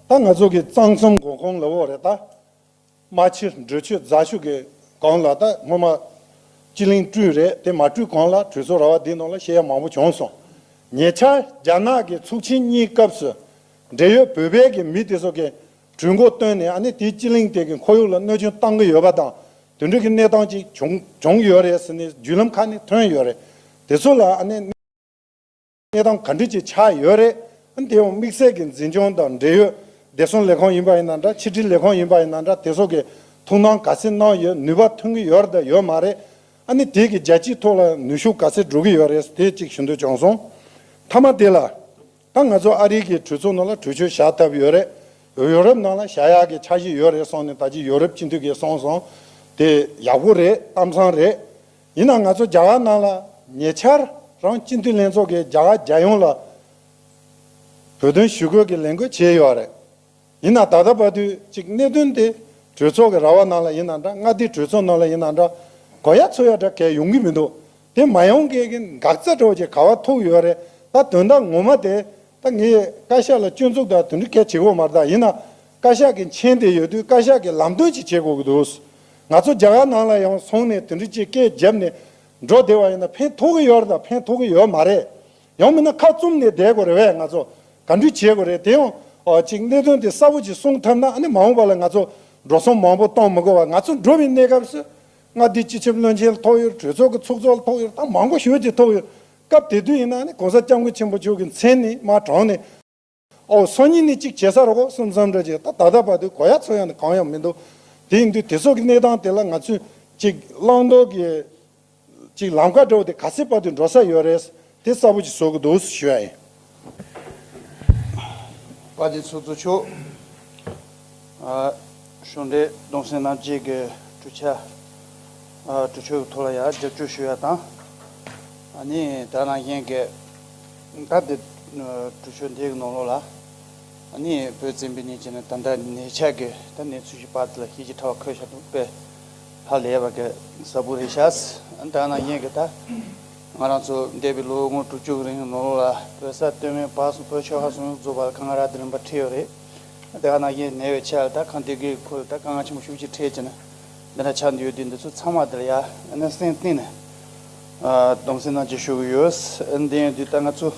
ད་ང་ཚོ་གི་གཙང་གསུམ་དགོན་གོང་ལ་འོག་རེ་ད་རྨ་ཆེ་འབྲུ་ཆུ་རྫ་ཤུག་གི་གང་ལ་ད་སྔོན་མ་སྤྱི་གླིང་བསྐྲུན་རེད་དེ་མ་བསྐྲུན་གང་ལ་གྲོས་ཚོགས་ར་བ་དེའི་ནང་ལ་ཤེས་ཡ་མང་པོ་བྱུང་སོང་ཉེ་ཆར་རྒྱ་ནག་གི་ཚོགས་ཆེན་གཉིས་སྐབས་སུ་འབྲེལ་ཡོད་བོད་པའི་གི་མི་དེ་ཚོ་གི། གྲོས་འགོ་བཏོན་ནས་ནས་དེའི་སྤྱི་གླིང་དེ་གི་ཁོར་ཡུག་ལ་གནོད་སྐྱོན་བཏང་གི་ཡོད་པ་དང་དུད་འགྲོ་གི་གནས་སྟངས་ཅིག་བྱུང་ཡོད་རེད་ཟེར་ནས་བརྒྱུད་ལམ་ཁག་ནས་ཐོན་ཡོད་རེད། དེ་ཚོ་ལ་ནས་གནས་སྟངས་ག་འདྲི་ཅིག་ཆགས་ཡོད་རེད། དེ་ཡང་དམིགས་བསལ་གི་འཛིན་སྐྱོང་དང་འབྲེལ་ཡོད་བདེ་སྲུང་ལས་ཁང་ཡིན་པ་ཡིན་ན་འདྲ་ཕྱི་དྲིལ་ལས་ཁང་ཡིན་པ་ཡིན་ན་འདྲ་དེ་ཚོ་གི་ཐུགས་སྣང་ག་ཚད་གནང་ཡོད་ནུས་པ་ཐོན་གི་ཡོད་དང་ཡོད་མ་རེད། ནས་དེ་གི་རྒྱལ་སྤྱིའི་ཐོག་ལ་ནུས་ཤུགས་ག་ཚད་འགྲོ་གི་ཡོད་རེད་དེ་ཅིག་ཞུ་འདོད་བྱུང་སོང། མཐའ་མ་དེ་ལ། ད་ང་ཚོ་ཨ་རི་གི་གྲོས་ཚོགས་ནང་ལ་གྲོས་ཆོད་བཞག་ཐབས་ཡོད་རེད། ཡོ་རོབ་ནང་ལ་བཞག་ཡག་གི་འཆར་གཞི་ཡོད་རེད་སོང་ནས་ད་ཅི་ཡོ་རོབ་སྤྱི་འཐུས་གས་སོང་སོང། དེ་ཡག་པོ་རེད་གཏམ་བཟང་རེད། ཡིན་ནང་ང་ཚོ་རྒྱ་གར་ནང་ལ་ཉེ་ཆར་རང་སྤྱི་འཐུས་ལྷན་ཚོགས་གས་རྒྱ་གར་རྒྱལ་ཡོངས་ལ་བོད་དོན་ཞུ་སྐུལ་གི་ལས་འགུལ་བྱས་ཡོད་རེད། ཡིན་ནའང་ད་ལྟ་བར་དུས་གཅིག་གནད་དོན་དེ་གྲོས་ཚོགས་ཀྱི་ར་བ་ནང་ལ་ཡིན་ན་འདྲ་མངའ་སྡེའི་གྲོས་ཚོགས་ནང་ལ་ཡིན་ན་འདྲ་གོ་ཡ་འཚོལ་ཡ་འདྲ་གས་ཡོང་གི་མི་འདུག་དེ་མ་ཡོང་གས་ཀྱི་འགག་རྩ་གྲོགས་ཀྱི་ག་བ་ཐུག་ཡོད་རེད་ད་དོན་དག་ངོ་མ་དེ་ད་ངས་བཀའ་ཤག་ལ་སྐྱོན་འཛུགས་དག་དོན་འདྲི་གས་བྱེད་དགོས་མ་རེད་ད་ཡིན་ན་བཀའ་ཤག་གི་མཆན་དེ་ཡོད་དུས་བཀའ་ཤག་གི་ལམ་སྟོན་ཅིག་བྱེད་དགོས་ཀྱི་འདུག་ང་ཚོ་རྒྱ་གར་ནང་ལ་ཡང་སོང་ནས་དོན་འདྲི་ཅིག་གས་རྒྱབ་ནས་འགྲོ་བདེ་བ་ཡིན་ན་ཕན་ཐོགས་ཀྱི་ཡོད་རེད་ད་ཕན་ཐོགས་ཀྱི་ཡོད་མ་རེད་ཡང་མིན་ན་ཁ་བཙུམ་ནས་བསྡད་དགོས་རེད་བས་ང་ཚོ་ག་འདྲི་བྱེད་དགོས་རེད་དེ་ཡང། ཅིག་གནད་དོན་དེ་གསར་བུ་ཅིག་སྲུང་ཐབས་ན་ནི་མ་འོངས་པ་ལ་ང་ཚོ་འགྲོ་སོང་མང་པོ་གཏོང་མི་དགོས་བར་ང་ཚོ་འགྲོ་བའི་གནས་སྐབས་སུ། མངའ་སྡེའི་སྤྱི་ཁྱབ་བློན་ཆེན་ཐོག་ཡོད་གྲོས་ཚོགས་ཀྱི་ཚོགས་གཙོ་ཐོག་ཡོད་དང་མང་པོ་ཞོལ་གྱི་ཐོག་ཡོད་སྐབས་དེ་དུས་ཡིན་ན་ནི་གོང་ས་སྐྱབས་མགོན་ཆེན་པོ་མཆོག་གི་མཚན་ནི་མ་དྲངས་ནས། ཨོ་སོ་གཉིས་ནི་གཅིག་བྱེད་ས་རོ་གོ་སོ་མཚམས་འདྲ་བྱེད་ད་ད་ལྟ་བར་དུ་གོ་ཡ་ཚོ་ཡང་དུ་གང་ཡང་མི་འདུག་དེ་འདུག་དེ་སོགས་ཀྱི་གནས་སྟངས་དེ་ལ་ང་ཚོས་ཅིག་བླང་དོར་གྱི་ཅིག་ལམ་ཁ་འདྲ་བོ་དེ་ག་ཚད་བར་དུ་འགྲོ་ས་ཡོད་རེད་དེ་གསལ་པོ་ཅིག་བཟོ་གི་འདུག་ཞུ་ཡ་ཡིན། བཀའ་དྲིན་ཚོགས་གཙོ་མཆོག། གཞུང་འབྲེལ་གདུང་སེམས་རྣམ་དབྱེ་གི་གྲུ་ཆ། གྲུ་ཆོད་ཐོག་ལ་ཡང་རྒྱབ་སྐྱོར་ཞུ་ཡ་དང། ནི་དག་སྣང་ཞེན་གི་སྐབས་དེ་གྲུ་ཆོད་འདི་གི་ནང་ལོགས་ལ། ནི་བོད་བཙན་པོའི་གནས་ཆེན་ན་ད་ལྟ་ནས་ཆགས་གི་ད་གནས་ཚུལ་ཞིག་པར་ལ་ཤེས་ཀྱི་ཁྲ་བ་ཁོལ་ཤ་འདུག་པས། ཧ་ལས་པ་གི་གཟའ་བུ་རེད་ཤག། དག་སྣང་ཞེན་གི་ད་ང་རང་ཚོ་འདས་པའི་ལོ་ངོ་དྲུག་ཅུ་གི་རིང་གི་ནང་ལོགས་ལ་བོད་ས་སྟོད་སྨད་བར་གསུམ་བོད་ཆོལ་ཁ་གསུམ་ཡོངས་རྫོགས་པར་ཁ་ང་རག་དེ་རིང་པར་ཁྲིད་ཡོད་རེད། དེ་ག་ནང་བཞིན་ནས་བའི་ཆ་ད་གང་དེ་གི་ཁོ་ད་གང་ང་ཆེན་པོ་ཤུགས་ཀྱིས་ཁྲེལ་ཀྱི་ན། འདི་ན་ཆ་འདི་ཡོད་དུས་འདི་ཚོ་ཚང་མ་དེར་ཡ་ནས་སེང་གཏིང་ནས་སྡོམ་སེང་གནང་ཀྱི་ཤོག་གི་ཡོད། འདི་ཡོད་དུས་ད་ང་ཚོ་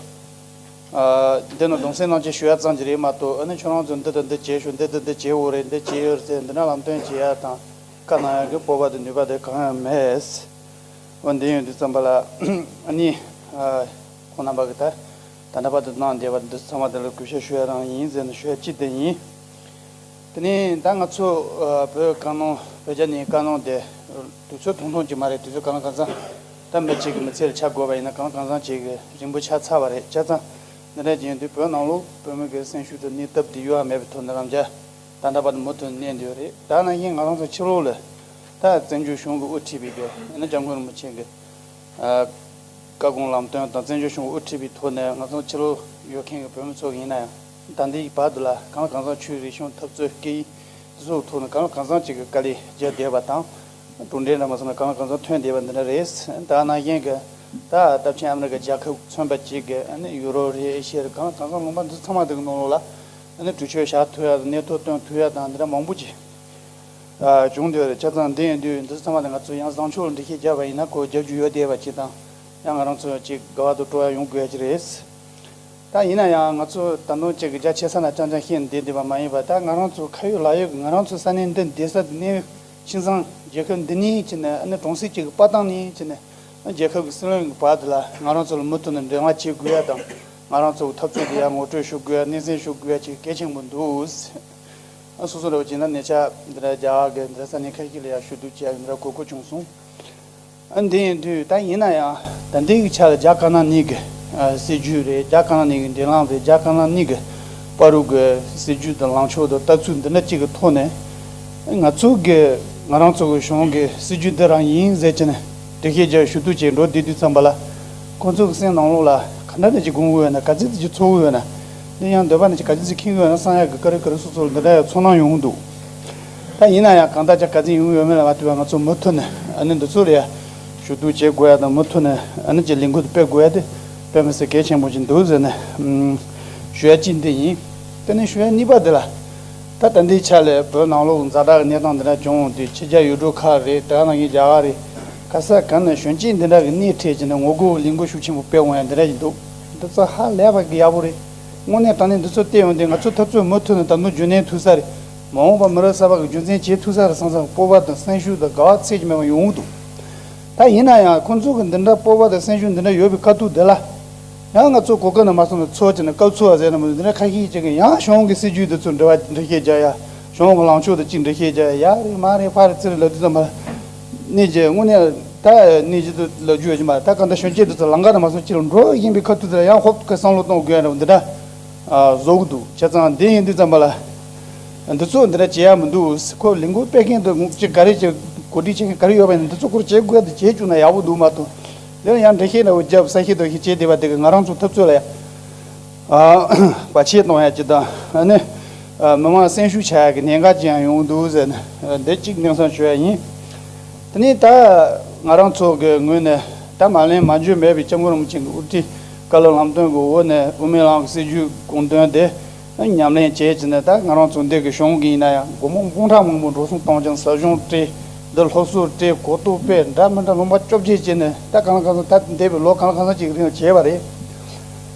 འདི་ན་སྡོམ་སེང་གནང་ཀྱི་ཤོག་ཡ་ཙང་ཀྱི་རེད་མ་གཏོགས་ཨ་ནི་ཁྱོད་རང་ཚོ་འདི་དང་འདི་བྱེད་ཤོག་འདི་དང་འདི་བྱེད་འོ་རེད་འདི་བྱེད་ཡོད་ཚེ་འདི་ན་ལམ་སྟོན་བྱེད་ཡ་དང་ག་ནང་ཡ་གི་སྤོབས་པ་དང་ནུས་པ་དེ་གང་ཡང་མེད། འོ་འདི་ཡོད་དུས་ཙམ་པ་ལ་ཨ་ནི་ཁོང་རྣམ་པ་གི་ད་ད་ལྟ་བར་དུ་གནང་བསྡད་པ་འདི་ཚང་མ་དེ་ལ་གུས་ཞབས་ཞུ་ཡ་རང་ཡིན་ཟེར་ན་ཞུ་ཡ་ཅི་བདེ་ཡིན། དེ་ནས་ད་ང་ཚོ་བོད་དཀར་ནང་བོད་རྒྱ་ནས་དཀར་ནང་བསྡད་དུས་ཚོད་ཐུང་ཐུང་ཅིག་མ་རེད་དུས་ཚོད་གང་ལ་གང་ཚང་ཐབས་འདི་གཅིག་གི་མི་ཚེ་ལ་ཆགས་དགོས་པ་ཡིན་ན་གང་ལ་གང་ཚང་བྱེད་དགོས་རིང་པོ་ཆགས་ཚར་བ་རེད་ཆ་ཚང་འདི་འདྲ་བྱས་དུས་བོད་ནང་ལོག་བོད་མི་འགའི་སེམས་ཤུགས་དང་གནས་སྟབས་འདི་ཡོད་ཨ་མེད་པའི་ཐོག་འདི་རང་རྒྱལ་ད་ལྟ་བར་དུ་མུ་མཐུད་གནས་འདི་ཡོད་རེད་ད་ནང་བཞིན་ང་རང་ཚོ་ཕྱི་ལོག་ལ་ད་བཙན་བྱོལ་གཞུང་གི་དབུ་ཁྲིད་པའི་རྒྱལ་ཡིན་ན་བྱ་འགུལ་རིང་པོ་བྱེད་དགོས་བཀའ་དགོངས་ལམ་སྟོན་དང་བཙན་བྱོལ་གཞུང་དབུ་ཁྲིད་པའི་ཐོག་ནས་ང་ཚོ་ཕྱི་ལོགས་ཡོད་མཁན་གྱི་བོད་མི་ཚོ་ཡིན་ན་ཡང་ཟླ་འདིའི་བར་དུ་ལ་གང་གང་ཟག་ཆོས་རིག་གཞུང་འཐབ་རྩོད་སྐད་ཡིག་གཟུགས་ཐོག་ནས་གང་ལ་གང་ཟག་ཅིག་གི་དཀའ་ལས་རྒྱལ་བསྡད་པ་དང། གྲུབ་འབྲས་འདྲ་མ་སོང་ན་གང་ལ་གང་ཟག་ཐོན་བསྡད་པ་འདི་འདྲ་རེད། ད་ནང་བཞིན་གྱི་ད་རླབས་ཆེན་ཨ་མི་རི་ཀ་རྒྱལ་ཁབ་མཚོན་པ་ཅིག་གིས་ཡུ་རོབ་རེ་ཨེ་ཤི་ཡ་རེ་གང་ལ་གང་ཟག་ལུང་པ་འདི་ཚང་མ་འདི་གི་ནང་ལོགས་ལ་གྲོས་ཆོད་བཞག་ཐུབ་ཡ་དང་གནས་ཐོ་བཏོན་ཐུབ་ཡ་དང་འདི་འདྲ་མང་པོ་ཅིག་བྱུང་དུས་ཆ་ཚང་འདི་ཡིན་དུས་འདི་ཚང་མ་ལ་ང་ཚོས་ཡང་བཟང་ཕྱོགས་འགྲེལ་བཤད་རྒྱག་པ་ཡིན་ན་གོ་རྒྱག་རྒྱུ་ཡོད་བསྡད་པ་གཅིག་དང་ཡང་ང་རང་ཚོ་གཅིག་དགའ་བ་དུ་སྤྲོ་བ་ཡོང་དགོས་ཀྱི་རེད། ད་ཡིན་ན་ཡང་ང་ཚོ་ད་དུང་གཅིག་རྒྱ་ཆེ་ས་ན་ཅང་ཅང་ཤེས་ནས་བསྡད་འདུག་པ་མ་ཡིན་པར་ད་ང་རང་ཚོ་ཁ་ཡོད་ལག་ཡོད་ཀྱི་ང་རང་ཚོ་ས་གནས་འདི་འདས་ས་འདི་གནས་ཡུལ་ཁྱིམ་ཚང་རྒྱལ་ཁབ་འདི་ནི་ཅི་ནས་ཨ་ནི་གྲོང་གསེབ་ཅིག་གི་དཔའ་ཐང་ནི་ཅི་ནས་ཨ་རྒྱལ་ཁབ་ཀྱི་སྲིད་བློན་གྱི་བར་དེ་ལ་ང་རང་ཚོ་ལ་མུ་མཐུད་ནས་འབྲེལ་བ་བྱེད་དགོས་ཡ་དང་ང་རང་ཚོ་གི་འཐབ་རྩོད་འདི་ཡར་ངོ་སྤྲོད་ཞུ་དགོས་ཡ་སྣེ་ཚན་ཞུ་དགོས་ཡ་གཅིག་གལ་ཆེན་པོ་འདུག། སོ་སོ་རེ་བ་ཅན་ལ་གནས་ཆ་འདི་ར་རྒྱ་ག་གི་འདི་ར་ས་གནས་ཁ་ཤིག་ལ་ཡང་ཞུ་གཏུག་བྱས་ཡོད་འདི་ར་གོ་གོ་བྱུང་སོང། དེ་ཡིན་དུས་ད་ཡིན་ན་ཡང་ད་འདི་གི་ཆ་ལ་རྒྱ་ག་ན་ནི་གི་སྲིད་ཇུས་རེད་རྒྱ་ག་ན་ནི་གི་འདི་ལངས་པའི་རྒྱ་ག་ན་ནི་གི་པ་རུག་གི་སྲིད་ཇུས་དང་ལངས་ཕྱོགས་དང་ལྟ་ཚུལ་འདི་འདྲ་གཅིག་གི་ཐོག་ནས་ང་ཚོ་གི་ང་རང་ཚོ་གི་གཞུང་གི་སྲིད་ཇུས་འདི་རང་ཡིན་ཟེར་གྱི་ནས་དུས་ཤེས་ཀྱི་ཞུ་གཏུག་བྱས་འགྲོ་དེ་དུས་ཙམ་པ་ལ་ཁོང་ཚོ་གི་སེམས་ནང་ལོག་ལ་ག་འདྲ་ནས་ཀྱི་དགོངས་འོས་ན་ག་ཚིག་ཅིག་ཆུ་ཚོགས་འོས་ན། གླིང་ཡང་འདོད་པ་ནི་ཅི་ག་ཇི་སྲིད་ཁེངས་ཡོད་ན་གསང་ཡག་གི་དཀའ་རིགས་ག་རེ་སོ་སོར་འདི་འདྲ་ཡང་ཚོར་སྣང་ཡོང་གི་འདུག་ད་ཡིན་ན་ཡང་གང་ལྟར་ཅག་ག་ཅི་ཡོང་གི་ཡོད་མེད་ལ་མ་ལྟོས་པར་ང་ཚོས་མུ་མཐུད་ནས་ཨ་ནི་འདི་ཚོ་ལ་ཡང་ཞུ་གཏུག་བྱེད་དགོས་ཡ་དང་མུ་མཐུད་ནས་ཨ་ནི་ཅི་ལས་འགུལ་དུ་སྤེལ་དགོས་ཡ་དེ་དཔེ་མི་སྲིད་གལ་ཆེན་པོ་ཅིག་འདུག་ཟེར་ནས་ཞུ་ཡ་གཅིག་འདི་ཡིན། དེ་ནས་ཞུ་ཡ་གཉིས་པ་འདི་ལ། ད་ད་འདིའི་ཆ་ལས་བོད་ནང་ལོག་འཛའ་དྲག་གི་གནས་སྟངས་འདི་འདྲ་བྱུང་དུས་ཕྱི་རྒྱ་ཡུལ་གྲུ་ཁག་རེད་དེ་ག་ནང་གི་རྒྱ་གར་རེད་ག་ས་ག་ནས་གཞོན་སྐྱེས་འདི་འདྲ་གི་སྣེ་ཁྲིད་བྱས་ནས་ངོ་རྒོལ་གྱི་ལས་འགུལ་ཤུགས་ཆེན་པོ་སྤེལ་འོང་ཡ་འདི་འདྲ་ཞིག་འདུག། འདི་ཚོ་ཧ་ལས་པ་ཡག་པོ་རེད། དངོས་གནས་དྲང་གནས་འདི་ཚོ་བལྟས་ཡོང་དུས་ང་ཚོའི་འཐབ་རྩོད་མུ་མཐུད་ནས་དམ་ནོར་རྒྱུན་གནས་ཐུག་ས་རེད། མ་འོངས་པར་མི་རབས་གསར་པ་གི་རྒྱུ་མཚན་བྱེད་ཐུག་ས་རེད་སང་སང་སྤོབས་པ་དང་སེམས་ཤུགས་དང་དགའ་བ་ཚད་ཀྱིས་མེད་པ་ཡོང་འུ་འདུག་ད། ཡིན་ན་ཡང་ཁོང་ཚོ་གི་འདི་འདྲ་སྤོབས་པ་དང་སེམས་ཤུགས་འདི་འདྲ་ཡོད་པའི་དཀའ་སྡུག་འདི་ལ། ཡང་ང་ཚོ་གོ་སྐབས་ནས་མ་སོང་ནས་ཚོགས་ཀྱི་ནང་སྐབས་འཚོལ་བ་ཟེར་ན་མི་འདུག་འདི་འདྲ་ཁ་ཤས་ཅིག་གིས་ཡང་གཞུང་གི་སྲིད་ཇུས་འདི་ཚོ་འབྲི་བ་འབྲི་ཤེས་བྱ་ཡ། གཞུང་གི་ལངས་ཕྱོགས་འདི་གཅིག་འབྲི་ཤེས་བྱ་ཡ་ཡག་རེད་མ་རེད་ཕར་རེད་ཙིར་རེད་ལབ་དུས་ཙམ་མ་རེད། གནས་ཀྱི་དངོས་གནས་ད་གནས་ཀྱི་དུ་ལ་རྒྱུ་ཡོད་ཀྱི་མ་ད་གང་ད་ཤོན་སྐྱེས་དུ་ཚ་ལང་ཀ་ན་མ་སོང་ཁྱི་ལ་འགྲོ་བཞིན་པའི་ཁ་ཐུག་དེ་ལ་ཡང་ཧོབ་ཀི་བསམ་བློ་གཏོང་དགོས་ཡོད་འདྲ། བཟོ་གི་འདུག་བྱས་ཙང་འདི་ཡིན་འདི་ཙམ་པ་ལ། འདི་ཚོ་འདི་འདྲ་བྱས་ཡག་མི་འདུག་ཁོ་ལས་འགུལ་སྤེལ་མཁན་དུ་ཅི་ག་རེ་ཅི་གོ་སྒྲིག་བྱེད་མཁན་ག་རེ་ཡོད་པ་ཡིན་འདི་ཚོ་སྐོར་བྱེད་དགོས་གལ་དུ་བྱེད་བཅུག་ན་ཡག་པོ་འདུག་མ་གཏོགས་ལན་ཡང་འབྲེལ་ཤེས་ན་འོས་རྒྱབ་ས་ཤེས་རྡོ་ཤེས་བྱས་བསྡད་པ་དེ་གི་ང་རང་ཚོ་ཐབས་རྩོད་ལ་ཡ། པ་ཆེད་གཏོང་ཡ་ཅི་དང་ནི། མི་དམངས་སེམས་ཤུགས་ཆག་ཡ་གི་གནད་འགག་ཅི་ཡང་ཡོང་འདུག་ཟེར་ནས་འདི་གཅིག་དེང་སང་བྱོས་ཡ་ཡིན། དེ་ནས་ད་ང་རང་ཚོ་གི་ངོས་ནས་ད་མ་ལན་མ་འཇོན་མེད་པའི་སྐྱབས་མགོན་རིན་པོ་ཆེན་གི་དབུ་ཁྲིད་བཀའ་སློབ་ལམ་སྟོན་གི་འོག་ནས་དབུ་མའི་ལམ་གི་སྲིད་ཇུས་དགོངས་དོན་དེ་ཉམས་ལེན་བྱས་ཅི་ནས་ད་ང་རང་ཚོ་འདི་གི་གཞུང་གི་ཡིན་ན་ཡང་སྒོར་མོ་དཔུང་ཁྲག་མང་པོ་འགྲོ་སོང་གཏོང་ཅིང་ཟབ་སྦྱོང་བཀྲིས་བདེ་སློབ་གསོ་བཀྲིས་གོ་རྟོགས་སྤེལ་འདྲ་མི་འདྲ་ལུང་པ་བཅོ་བརྒྱད་བྱས་ནས་ད་གང་ལ་གང་ཚང་ད་འདས་པའི་ལོ་གང་ལ་གང་ཚང་ཅིག་གི་རིང་ལ་བྱས་པ་རེད།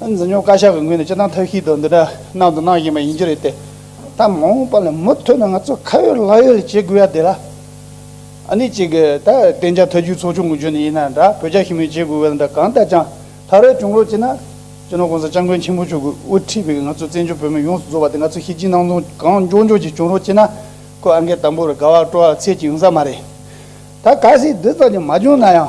འཛིན་སྐྱོང་བཀའ་ཤག་གི་ངོས་ནས་སྤྱི་བཏང་ཐབས་ཤེས་དང་འདི་འདྲ་གནང་དང་གནང་བཞིན་པ་ཡིན་གྱི་རེད་དེ། ད་མ་འོངས་པ་ལ་མུ་མཐུད་ནས་ང་ཚོས་ཁ་ཡོད་ལག་ཡོད་བྱེད་དགོས་ཡ་དེ་ལ། ཨ་ནི་གཅིག་ད་བསྟན་བྱ་ཐ་རྒྱུད་ཚོགས་ཆུང་གི་རྒྱུད་ནས་ཡིན་ན་འདྲ་བོད་རྒྱ་ཞི་མོལ་བྱེད་དགོས་བས་འདྲ་གང་ལྟར་ཀྱང་ད་རེས་བྱུང་ལོ་གཅིག་ན། སྤྱི་ནོར ྋགོང་ས ྋསྐྱབས་མགོན་ཆེན་པོ་མཆོག་གིས་དབུ་ཁྲིད་པའི་ང་ཚོ་བཙན་བྱོལ་བོད་མི་ཡོངས་སུ་རྫོགས་པ་དེ་ང་ཚོས་ཤེས་ཀྱིན་སྣང་སྟོང་གང་མགྱོགས་མགྱོགས་ཀྱིས་བྱུང་རོགས་ཅེ་ན། ཁོས་ཨ་འགས་དམ་པོར་དགའ་བ་སྤྲོ་བ་ཚད་ཀྱིས་ཡོང་ས་མ་རེད། ད་ག་སྲིད་འདི་ཙམ་ཀྱང་མ་བྱུང་ན་ཡང།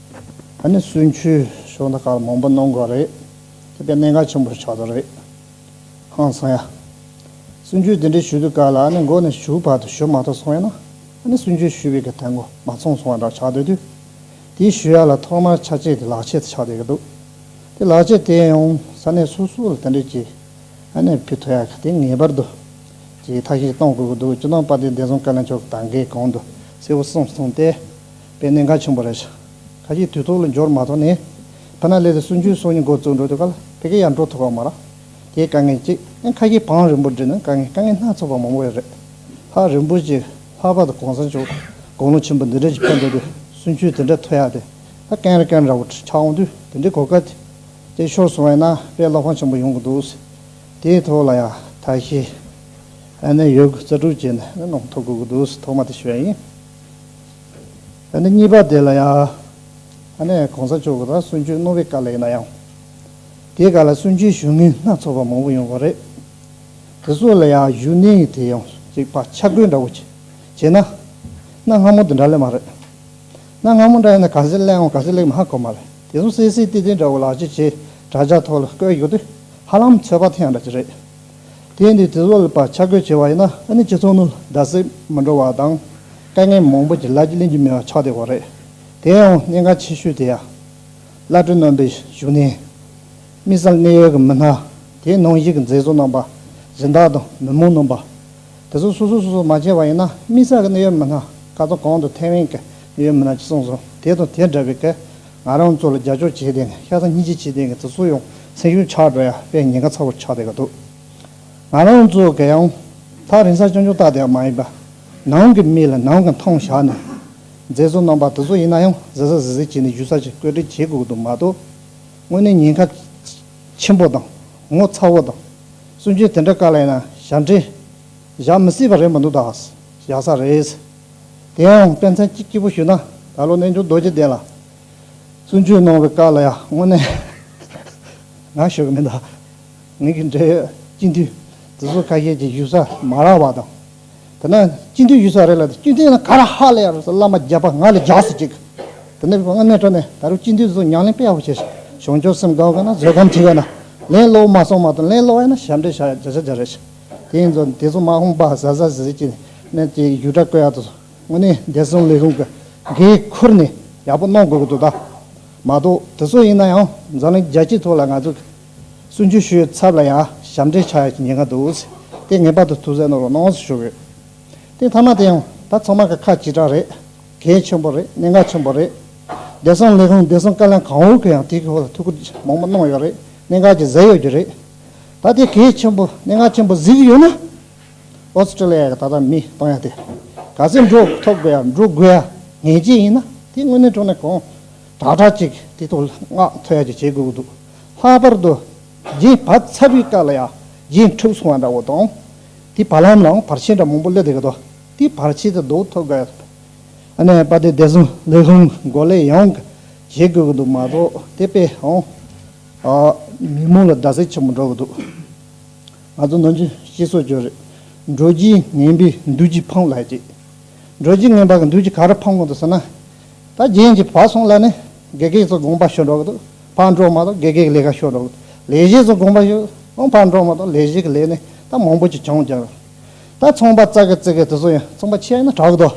ད་ནི་བསུན་ཆུ་ཤོག་མདའ་དཀར་མང་པོ་གནང་དགོས་རེད། དེ་པའི་གནད་འགག་ཆེན་པོར་ཆགས་འདུག་རེད། ཧང་སང་ཡ། བསུན་ཆུ་དེ་འདྲའི་ཞུ་དུས་དཀར་ལ་ཨ་ནི་མགོ་ནས་ཞུགས་བར་དུ་ཞུ་མ་ཐུབ་སོང་ཡ་ན། ཨ་ནི་བསུན་ཆུའི་ཞུ་བའི་གི་ཐལ་མགོ་མ་ཚང་སོང་བ་འདྲ་ཆགས་སྡོད་དུས། དེའི་ཞུ་ཡ་ལ་ཐོག་མར་ཆ་བྱད་དེ་ལག་ཆད་དུ་ཆགས་སྡོད་ཀྱི་འདུག་དེ་ལག་ཆད་དེ་ཡང་ས་གནས་སོ་སོ་ལ་དེ་འདྲའི་གྱི་ཨ་ནི་བུ་ཐོ་ཡ་གི་དེ་ངེས་པར་དུ་གྱི་ཐག་ཞིག་གཏང་དགོས་ཀྱི་འདུག་ཅུ་ནང་པ་དེ་བདེ་སྲུང་བཀའ་བློན་མཆོག་གི་ད་འགའི་གང་འདུག་གསལ་བོ་གསུངས་སོང་སྟེ། པའི་གནད་འགག་བྱུང་བ་རེད། ཁ་ཅིག་དུས་ཐོག་ལ་འབྱོར་མ་ཐག་ནས་བྷ་ན་ལེ་ལ་སུན་ཅུན་སོགས་ཉིད་འགོ་བཙུགས་འགྲོ་དུས་ག་ལ་ཕེབས་མཁན་ཡང་འགྲོ་ཐུབ་པ་མ་རེད། དེའི་དཀའ་ངལ་གཅིག། ཡང་ཁ་ཅིག་བང་རིན་པོ་འབྲི་ན་དཀའ་ངལ་དཀའ་ངལ་སྣ་ཚོགས་པ་མང་བོ་ཡོད་རེད། ལྷག་རིན་པོ་ཆེ་ལྷག་པར་དུ་གོང་ས་མཆོག་དགུང་ལོ་ཆེན་པོ་འདི་འདྲ་ཞིག་ཕེབས་འགྲོ་དུས་སུན་ཅུན་དེ་འདྲ་ཐོན་ཡག་དེ། ད་ཀན་ར་ཀན་ར་བོ་ཆགས་འོང་དུས་དེ་འདྲའི་གོ་སྐབས་དེ་ཤོར་སོང་བས་ན་དཔེ་བློ་ཕམ་ཆེན་པོ་ཡོང་གི་འདུག་ཟེར། དེའི་ཐོག་ལ་ཡང་དག་ཞིག་ཨ་ནེ་ཡོད་དགུ་རྩ་དྲུག་བྱས་ནས་ནང་མཐོ་དགོས་ཀྱི་འདུག་ཟེར་ཐོག་མ་དེ་ཤོད་ཡིན། གཉིས་པ་དེ་ལ་ཡང་གོང་ས་མཆོག་གི་རང་གསུང་ཆོས་རྣོ་བའི་བཀའ་ལས་ན་ཡང་དེའི་བཀའ་ལ་བསུན་ཆོས་ཞུ་ངེས་སྣ་ཚོགས་པ་མང་པོ་ཡོང་བ་རེད། དེ་སོགས་ལ་ཡང་ཞུ་གནས་ཡིན་དེ་ཡང་ཅིག་པ་ཆ་བགོས་འདྲ་བོ་བྱས་ན་གནའ་སྔ་མོ་དེ་འདྲ་ལས་མ་རེད། གནའ་སྔ་མོ་འདྲ་ཡིན་ན་ག་ཟེ་གླེང་འོང་ག་ཟེ་གླེང་མ་དགོས་མ་རེད་དེ་སོང་གསལ་གསལ་ཏིག་ཏིག་འདྲ་བོ་ལག་འཁྱེར་བྱས་དྲ་རྒྱ་ཐོག་ལ་བཀོད་ཡོད་དུས་ཧ་ལམ་ཚོད་དཔག་ཐེངས་འདྲ་ཅིག་རེད། དེས་འདི་དྲི་ལོལ་པར་ཆ་བགོས་བྱས་པ་ཡིན་ན་ཨ་ནི་ཁྱེད་ཚོ་ནི་སྒྲ་ཟེགས་མི་འགྲོ་བ་དང་དཀའ་ངལ་མང་པོ་ཀྱི་ལག་གྱི་གླེང་རྒྱུ་མེད་པ་ཆགས་བསྡད་པ་རེད། དེ་ཡང་གནད་འགག་ཆེ་ཤོས་དེ་ཡ། བླ་སྤྲུལ་རྣམ་པའི་བཞུགས་གནས། དམིགས་བསལ་གནད་ཡོད་ཀྱི་མི་སྣ། དེའི་ནང་གཞིས་ཀྱི་མཛད་གཙོ་རྣམ་པ། གཞི་བདག་དང་མི་མང་རྣམ་པ། དེ་ཚོ་སོ་སོ་སོ་སོ་མ་བྱས་པ་ཡིན་ན་དམིགས་བསལ་གྱི་གནད་ཡོད་མི་སྣ། ཁ་ཚ་གང་དུ་ཐེ་ཝན་གྱི་གནད་ཡོད་མི་སྣ་ཅིག་གསུངས་སོང་དེ་དང་དེ་འདྲ་བའི་ག། ང་རང་ཚོ་ལ་རྒྱ་ཕྱོགས་བྱེད་དེ་ཤ་ཚ་སྙི་ཆི་བྱེད་དེ་གི་ཚེ་སུ་ཡོང་སེམས་ཤུགས་ཆག་འགྲོ་ཡ་པའི་ཉེན་ཁ་ཚ་བོ་ཆག་དེ་གི་འདུག་ང་རང་ཚོ་གི་ཡང་ཐག་རིང་སར་སྤྱང་ཆུང་བཏགས་དེ་མ་ཡིན་པ་ནང་གི་མི་ལ་ནང་གི་མཐོང་བཞག་ནས་མཛེས་བཟོ་རྣམ་པ་དེ་ཚོ་ཡིན་ན་ཡང་ཟེ་ས་ཟེ་ཟེ་བྱེད་ནས་བཞུད་ས་ཞིག་བཀོད་སྒྲིག་བྱེད་དགོས་གི་འདུག་མ་གཏོགས་དངོས་གནས་ཉེན་ཁ་ཆེན་པོ་དང་ངོ་ཚ་བོ་དང་སུན་ཆོད་དེ་འདྲ་ག་ལ་ཡིན་ན་ཞབས་འདྲེན་བཞག་མི་སྲིད་པ་རེད་མ་འདུག་ད་བཞག་ས་རེད། དེའང་དཔེ་མཚོན་གཅིག་སྐྱིད་པོ་ཞུས་ན་ད་ལོ་རྣལ་འབྱོར་རྡོ་རྗེ་གདན་ལ་བཙུན་ཆོས་གནང་བའི་སྐབས་ལ་ཡང་དངོས་གནས་ང་ཞུ་གི་མི་འདུག་ངེད་ཀྱི་འབྲེལ་ཡོད་སྤྱི་འཐུས་དེ་ཚོ་ཁ་ཤས་ཀྱིས་གཞུག་ས་མ་རག་པ་དང། དེ་ནས་སྤྱི་འཐུས་གཞུག་ས་རེད་ལ་དེ་སྤྱི་འཐུས་ན་ག་ར་ཧ་ལས་ཡ་རུ་སོགས་བླ་མ་རྒྱལ་པ་ང་ལ་རྒྱག་སྲིད་ཅིག་དེ་ནས་དངོས་གནས་ཁྲོ་ནས་ད་རུང་སྤྱི་འཐུས་དེ་ཚོ་ཉང་གླིང་དཔེ་ཡག་པོ་བྱས་ཤིང་གཞུང་ཆོས་སེམས་དགའ་བ་ཁོ་ན་བཟོད་སྒམ་བྱེད་ཀྱི་ན་ལན་སློག་མ་སོང་མ་གཏོགས་ལན་སློག་ཡ་ན་ཞབས་འདྲེན་བྱ་བྱ་རེད་ཤག། དེ་ནས་བཟུང་དེ་མཚུངས་མ་ཧོང་པ་བཟའ་བཟའ་ཟེར་གྱིས་ནས་དེ་ཡུལ་གྲྭ་བཀོད་ཡག་ཏུ་སོང་ངོ་ནས་བདེ་སྲུང་ལས་ཁུངས་ཀྱི་འགན་ཁུར་ནས་ཡག་པོ་གནང་དགོས་ཀྱི་འདུག་ད་མ་གཏོགས་དེ་ཚོ་ཡིན་ན་ཡང་འཛམ་གླིང་རྒྱལ་སྤྱིའི་ཐོག་ལ་ང་ཚོ་གི་སུན་ཆུ་ཤོའི་ཚབ་ལ་ཡང་ཞབས་འདྲེན་ཆགས་ཡག་ཉེན་ཁ་འདུག་དེ་ངེས་པར་དུ་ཐུགས་གཟན་གནང་རོགས་གནང་ཞུ་གི་ཡོད་དེ་མཐའ་མ་དེ་ཡང་ད་ཚང་མ་གི་ཁ་གཅིག་གྲགས་རེད་གལ་ཆེན་པོ་རེད་གནད་འགག་ཆེན་པོ་རེད་བདེ་སྲུང་ལས་ཁུངས་བདེ་སྲུང་བཀའ་བློན་གང་བོ་གི་ཡང་དེ་གི་ཐོག་ལ་ཐུགས་ཁུར་མང་པོ་གནང་ཡོད་རེད་གནད་འགག་གི་གཟེར་ཡོད་རྒྱུ་རེད། ད་དེ་གའི་ཆེན་པོ་སྙན་ངག་ཆེན་པོ་གཟིགས་ཡོད་ན། Australia གི་ད་ལྟ་མི་སྟོང་ཡ་དེ་ག་ཚོད་འགྲོ་ཐུབ་དགོས་ཡ་འགྲོ་དགོས་ཡ་ངེས་ཅན་ཡིན་ན་དེ་དངོས་གནས་འགྲོ་ན་གང་དྲག་དྲག་ཅིག་དེ་ཐོག་སྔགས་འཐོལ་ཡ་ཅིག་བྱེད་དགོས་ཀྱི་འདུག་ལྷག་པར་དུ་རྗེ་བ་ཚ་བའི་སྐབས་ལ་ཡ་རྗེ་འཁྲུག་སོང་བ་འདྲ་བོ་དང། དེ་བར་ལམ་ལའང་བར་ཆད་འདྲ་མང་པོ་སླེབས་བསྡད་ཀྱི་འདུག་དེ་བར་ཆད་དེ་ཟློག་ཐུབ་དགོས་ཡ་ཟེར་ན་ཡང་པ་དེ་བདེ་སྲུང་ལས་ཁུངས་འགོ་ལས་ཡང་བྱེད་དགོས་ཀྱི་འདུག་མ་གཏོགས་དེ་པས་ཡང། མི་མང་ལ་རྡ་སའི་ཆེན་མོ་འགྲོ་གི་འདུག་ང་ཚོ་ནང་ཆོས་ཤེས་སོ་ཅོ་རེད་འགྲོ་རྒྱུའི་ངན་པའི་མདུད་ཅིག་འཕངས་ལགས་ཀྱི། འགྲོ་རྒྱུའི་ངན་པ་གི་མདུད་ཅིག་ག་རེ་འཕངས་གི་འདུག་ཟེར་ན། ད་རྒྱན་གྱི་བག་སོང་ལ་ནི་དགེ་རྒན་ཚོ་དགོངས་པ་ཞུ་འགྲོ་གི་འདུག་བག་འགྲོ་མ་གཏོགས་དགེ་རྒན་གི་ལས་ཀ་ཞུ་འགྲོ་གི་འདུག་ལས་བྱེད་ཚོ་དགོངས་པ་ཞུ་འོང་བག་འགྲོ་མ་གཏོགས་ལས་བྱེད་གི་ལས་ནི་ད་མང་པོ་ཅིག་བྱུང་རྒྱག་རོགས་ད་ཚོང་པ་བཙག་གི་བཙིར་གི་དེ་ཚོ་ཡང་ཚོང་པ་ཆེ་ཡང་ན་དྲག་གི་འདུག་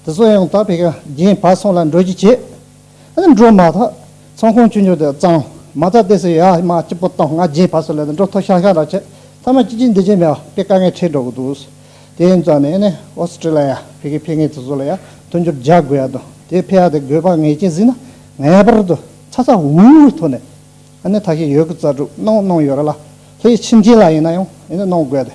དེ་ཚོ་ཡང་ད་བས་ཀྱང་རྒྱན་བག་སོང་ལ་འགྲོ་རྒྱུ་བྱེད། འགྲོ་མ་ཐག་ཚང་ཁོང་ཅུ་ཉོ་དེ་གཙང་མ་ཐག་དེ་སི་ཡ་མ་སྐྱིད་པོ་བཏང་ང་རྗེས་ཕར་སོ་ལས་དང་འགྲོ་ཐོ་ཤང་ཤང་ར་ཆད་ཐ་མ་ཅི་ཅི་འདི་ཅི་མེད་བ་པའི་དཀའ་ངལ་འཕྲད་འགྲོ་གི་འདུག་དེ་ཡིན་ཙང་ནས་ནས་ཨོ་སི་ཀྲི་ལ་ཡ་བྷི་གི་འཕེལ་ངེས་ཚོ་ཚོ་ལ་ཡ་མཐུན་འགྱུར་རྒྱག་དགོས་ཡ་དང་དེ་འཕེལ་ཡ་དེ་དགོས་པ་ངེས་ཅན་ཟིན་ན་ངེས་པར་དུ་ཚ་ཚ་འུར་འུར་གྱི་ཐོག་ནས་ཨ་ནེ་ཐ་ཤི་ཡོད་གི་རྩ་དྲུག་གནང་གནང་ཡོད་ར་ལ་ལྷའི་ཕྱི་མཁྱེན་ལ་ཡིན་ན་ཡང་ཨེ་ནས་གནང་དགོས་ཏེ